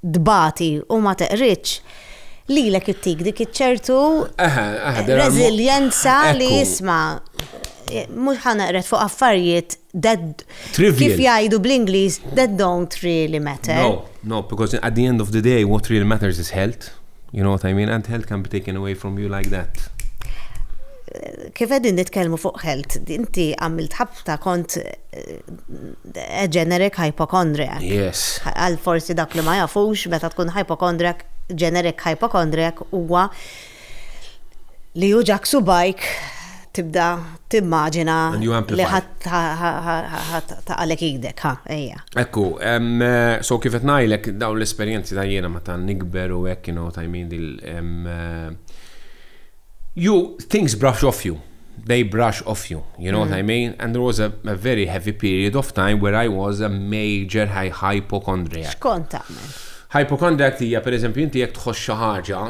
tbati u ma teqridx, lilek ittik dik iċ-ċertu reżiljenza li jisma' mhux ħa neqred fuq affarijiet kif jgħidu bl-Ingliż that don't really matter. No, no, because at the end of the day what really matters is health. You know what I mean? And health can be taken away from you like that. Kif qegħdin nitkellmu fuq health, inti għamilt ħabta kont a generic hypochondriac. Yes. Għal forsi dak li ma jafux, meta tkun hypochondriac, generic hypochondriac huwa li juġak subajk tibda timmaġina li ħadd għalek idek, ha, ejja. Ekku, so kif qed ngħidlek dawn l-esperjenzi ta' jiena meta nikber u hekk kienu tajmin dil you things brush off you. They brush off you. You know mm. what I mm. mean? And there was a, a, very heavy period of time where I was a major hypochondriac. Xkont tagħmel? Hypochondriac tija, per eżempju, inti jek tħoss xi ħaġa,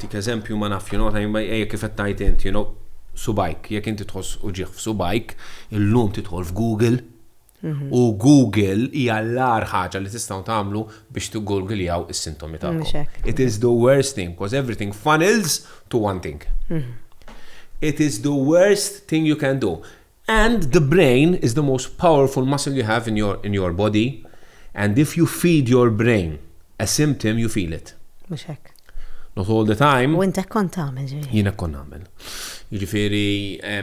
tik eżempju ma naf, you know, ejja kif qed tajt inti, you know, subajk, jekk inti tħoss uġieħ f'subajk, illum titħol f'Google, U Google hija l-agħar ħaġa li tistgħu tagħmlu biex tiggurgiljaw is-sintomi tagħkom. It is the worst thing because everything funnels to one thing. Mhm. It is the worst thing you can do. And the brain is the most powerful muscle you have in your, in your body. And if you feed your brain a symptom, you feel it. Mux hekk. Not all the time. U intek kont għamil ġiri. Jina kont għamil. Ġifiri, eh,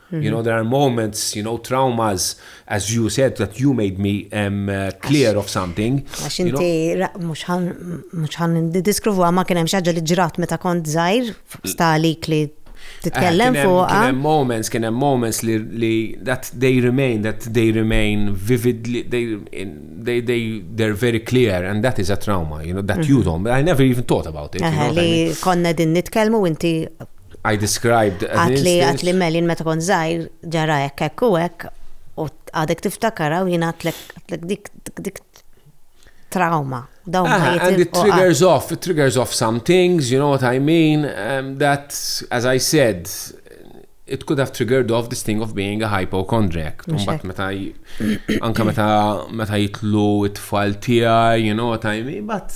You know, there are moments, you know, traumas, as you said, that you made me um, uh, clear of something. Għax inti, mux ħan diskruvu għamma kienem xaġa li ġrat meta kont zaħir, stalik li titkellem eh, fuq. Kienem moments, kienem moments li, li that they remain, that they remain vividly, they, they, they, they're very clear and that is a trauma, you know, that you mhm. don't, I never even thought about it. Li konna din nitkelmu inti I described an instance. Għatli Melin meta kont zaħir ġara hekk hekk u hekk u għadek tiftakara u jien għatlek dik dik trauma. Dawn ah, ma And it triggers off, it triggers off some things, you know what I mean? Um, that, as I said, it could have triggered off this thing of being a hypochondriac. Mbatt meta anka meta meta jitlu it-tfal tiegħi, you know what I mean, but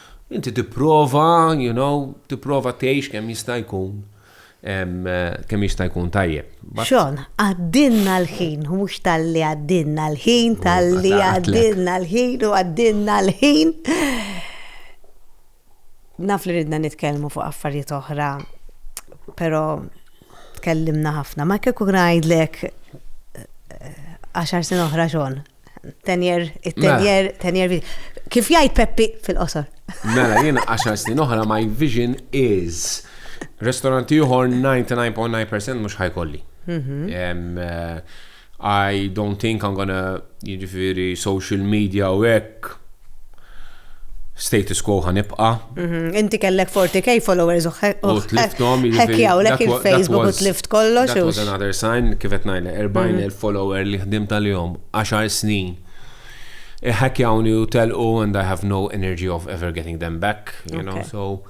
Inti tipprova, you know, tipprova tgħix kemm jista' jkun kemm jista' jkun tajjeb. Xon, għaddinna l-ħin, mhux tal-li għaddinna l-ħin, tal-li għaddinna l-ħin u għaddinna l-ħin. Naf li ridna nitkellmu fuq affarijiet oħra, però tkellimna ħafna. Ma kieku ngħidlek eh, għaxar sen oħra xon, Tenjer, it-tenjer, mela. tenjer. Kif jgħid Peppi fil-qosor? Mela, jiena 10 snin oħra my vision is restoranti uħor 99.9% mhux ħajkolli. Mhm. Eh, I don't think I'm gonna jiġifieri social media u hekk status quo ħa nibqa. Mhm, inti kellek 40k followers u tliftom. Ħekjaw lek il-Facebook u tlift kollox. That was another sign, kifet najle, 40 mhm. il-follower li ħdim tal-jom, 10 snin. Ħekjawni u telqu and I have no energy of ever getting them back, you know, so.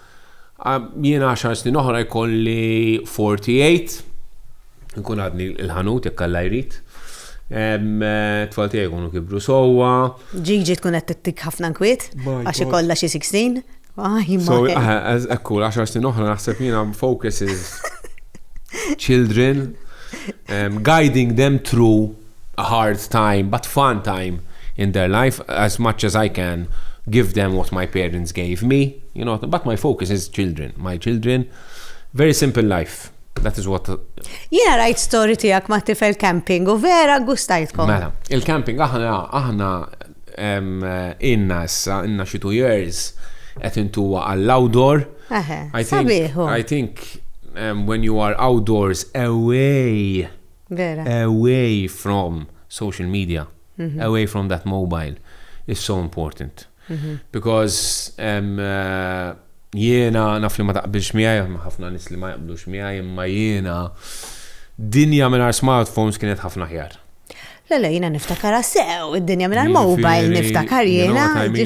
Jiena 10 snin oħra jkolli 48. Inkun għadni il-ħanut jekk Alla jrid. Tfal tiegħi jkunu kibru sewwa. Ġiġi tkun qed tittik ħafna nkwiet għax ikollha xi 16. Ekku, 10 snin oħra naħseb jiena focus is children, um, guiding them through a hard time, but fun time in their life as much as I can give them what my parents gave me, you know, but my focus is children, my children, very simple life. That is what. Jena rajt story tijak ma tifel camping u vera gustajtkom. Mela, il-camping aħna aħna inna issa, inna xi two years qed intuwa għall-outdoor. I think, I think um, when you are outdoors away Vera. away from social media, mm -hmm. away from that mobile is so important. Because jiena naf li ma taqbilx miegħi, ma ħafna nis li ma jaqblux miegħi, imma jiena dinja minn smartphones kienet ħafna ħjar. Lele, jina niftakar sew, id-dinja minna l-mobile niftakar jina.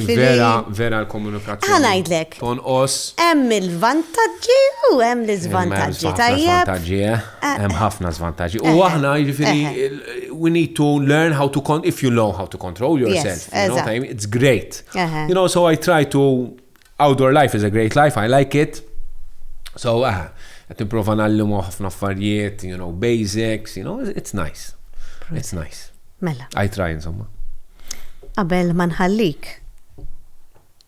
Vera, vera l-komunikazzjoni. Għanajdlek. Ton os. Hemm il-vantagġi u hemm l-izvantagġi. Tajjeb. Hemm ħafna żvantaġġi. U aħna jiġifieri we need to learn how to con if you know how to control yourself. Yes, you know, time, it's great. You know, so I try to outdoor life is a great life, I like it. So ah, qed nipprova nallimu ħafna affarijiet, you know, basics, you know, it's nice. It's nice. Mela. I try insomma. Qabel ma nħallik.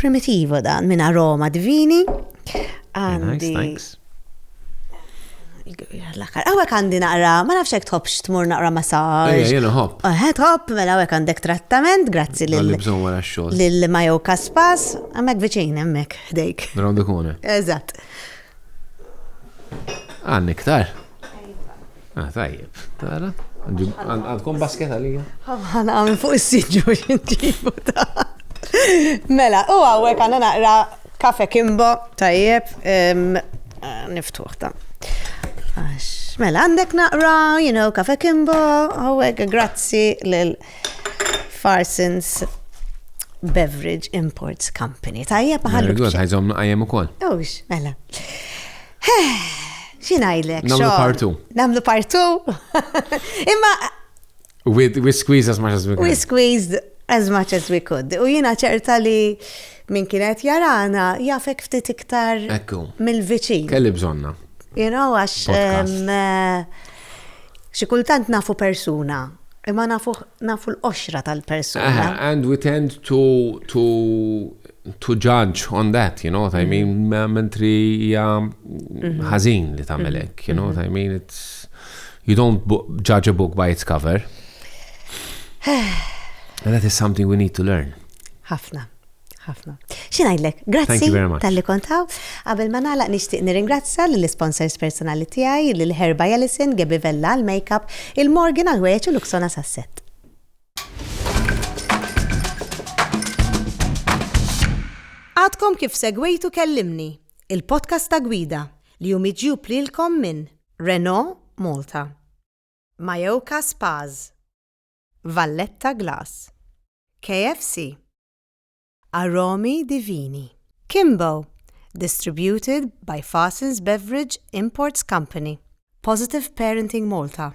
Primitivo dan minn aroma divini. Għandi. Għawek għandi naqra, ma nafx jek tħobx tmur naqra massage. Ejja, jena hop. Għed hop, mela għawek għandek trattament, grazzi l-Majo Kaspas, għamek viċin, għamek, ħdejk. Rawdu kone. Eżat. Għanni ktar. Ah, tajjeb, tara. Għandkom basket għalija? Għana għamil fuq s-sidġu xintibu ta' Mela, u għawek għana naqra kafe kimbo, tajjeb, niftuħ ta' Mela, għandek naqra, you know, kafe kimbo, għawek, grazzi l-Farsons Beverage Imports Company. Tajjeb, għallu. Għazom naqajem u kol. Ux, mela. Xi ngħidlek? Nagħmlu partu. Nagħmlu partu. Imma We, we squeeze as much as we could. We squeezed as much as we could. U jina ċerta li minn kienet jarana jafek ftit iktar mill-viċin. Kelli bżonna. You know, għax eh, xi kultant nafu persuna, imma nafu, nafu l-qoxra tal-persuna. And we tend to, to to judge on that, you know what I mean? Mm-hmm. Mentri hija mm-hmm. ħażin li tagħmel mm-hmm. hekk, you know what I mean? It's you don't judge a book by its cover. And that is something we need to learn. Ħafna ħafna. Xinajdlek, grazzi tal-li kontaw. Għabel ma nalaq nishtiq nirringrazza l-sponsors personali tijaj, l-Herba Jellison, Gebi Vella, l-Makeup, il-Morgan għal-ħwejċ u l-Uksona Sasset. Għadkom kif segwejtu Kellimni, il-podcast ta' gwida li hu miġjub lilkom minn Renault Malta, Majoka Spas, Valletta Glass, KFC, Aromi Divini, Kimbo, distributed by Fasins Beverage Imports Company, Positive Parenting Malta.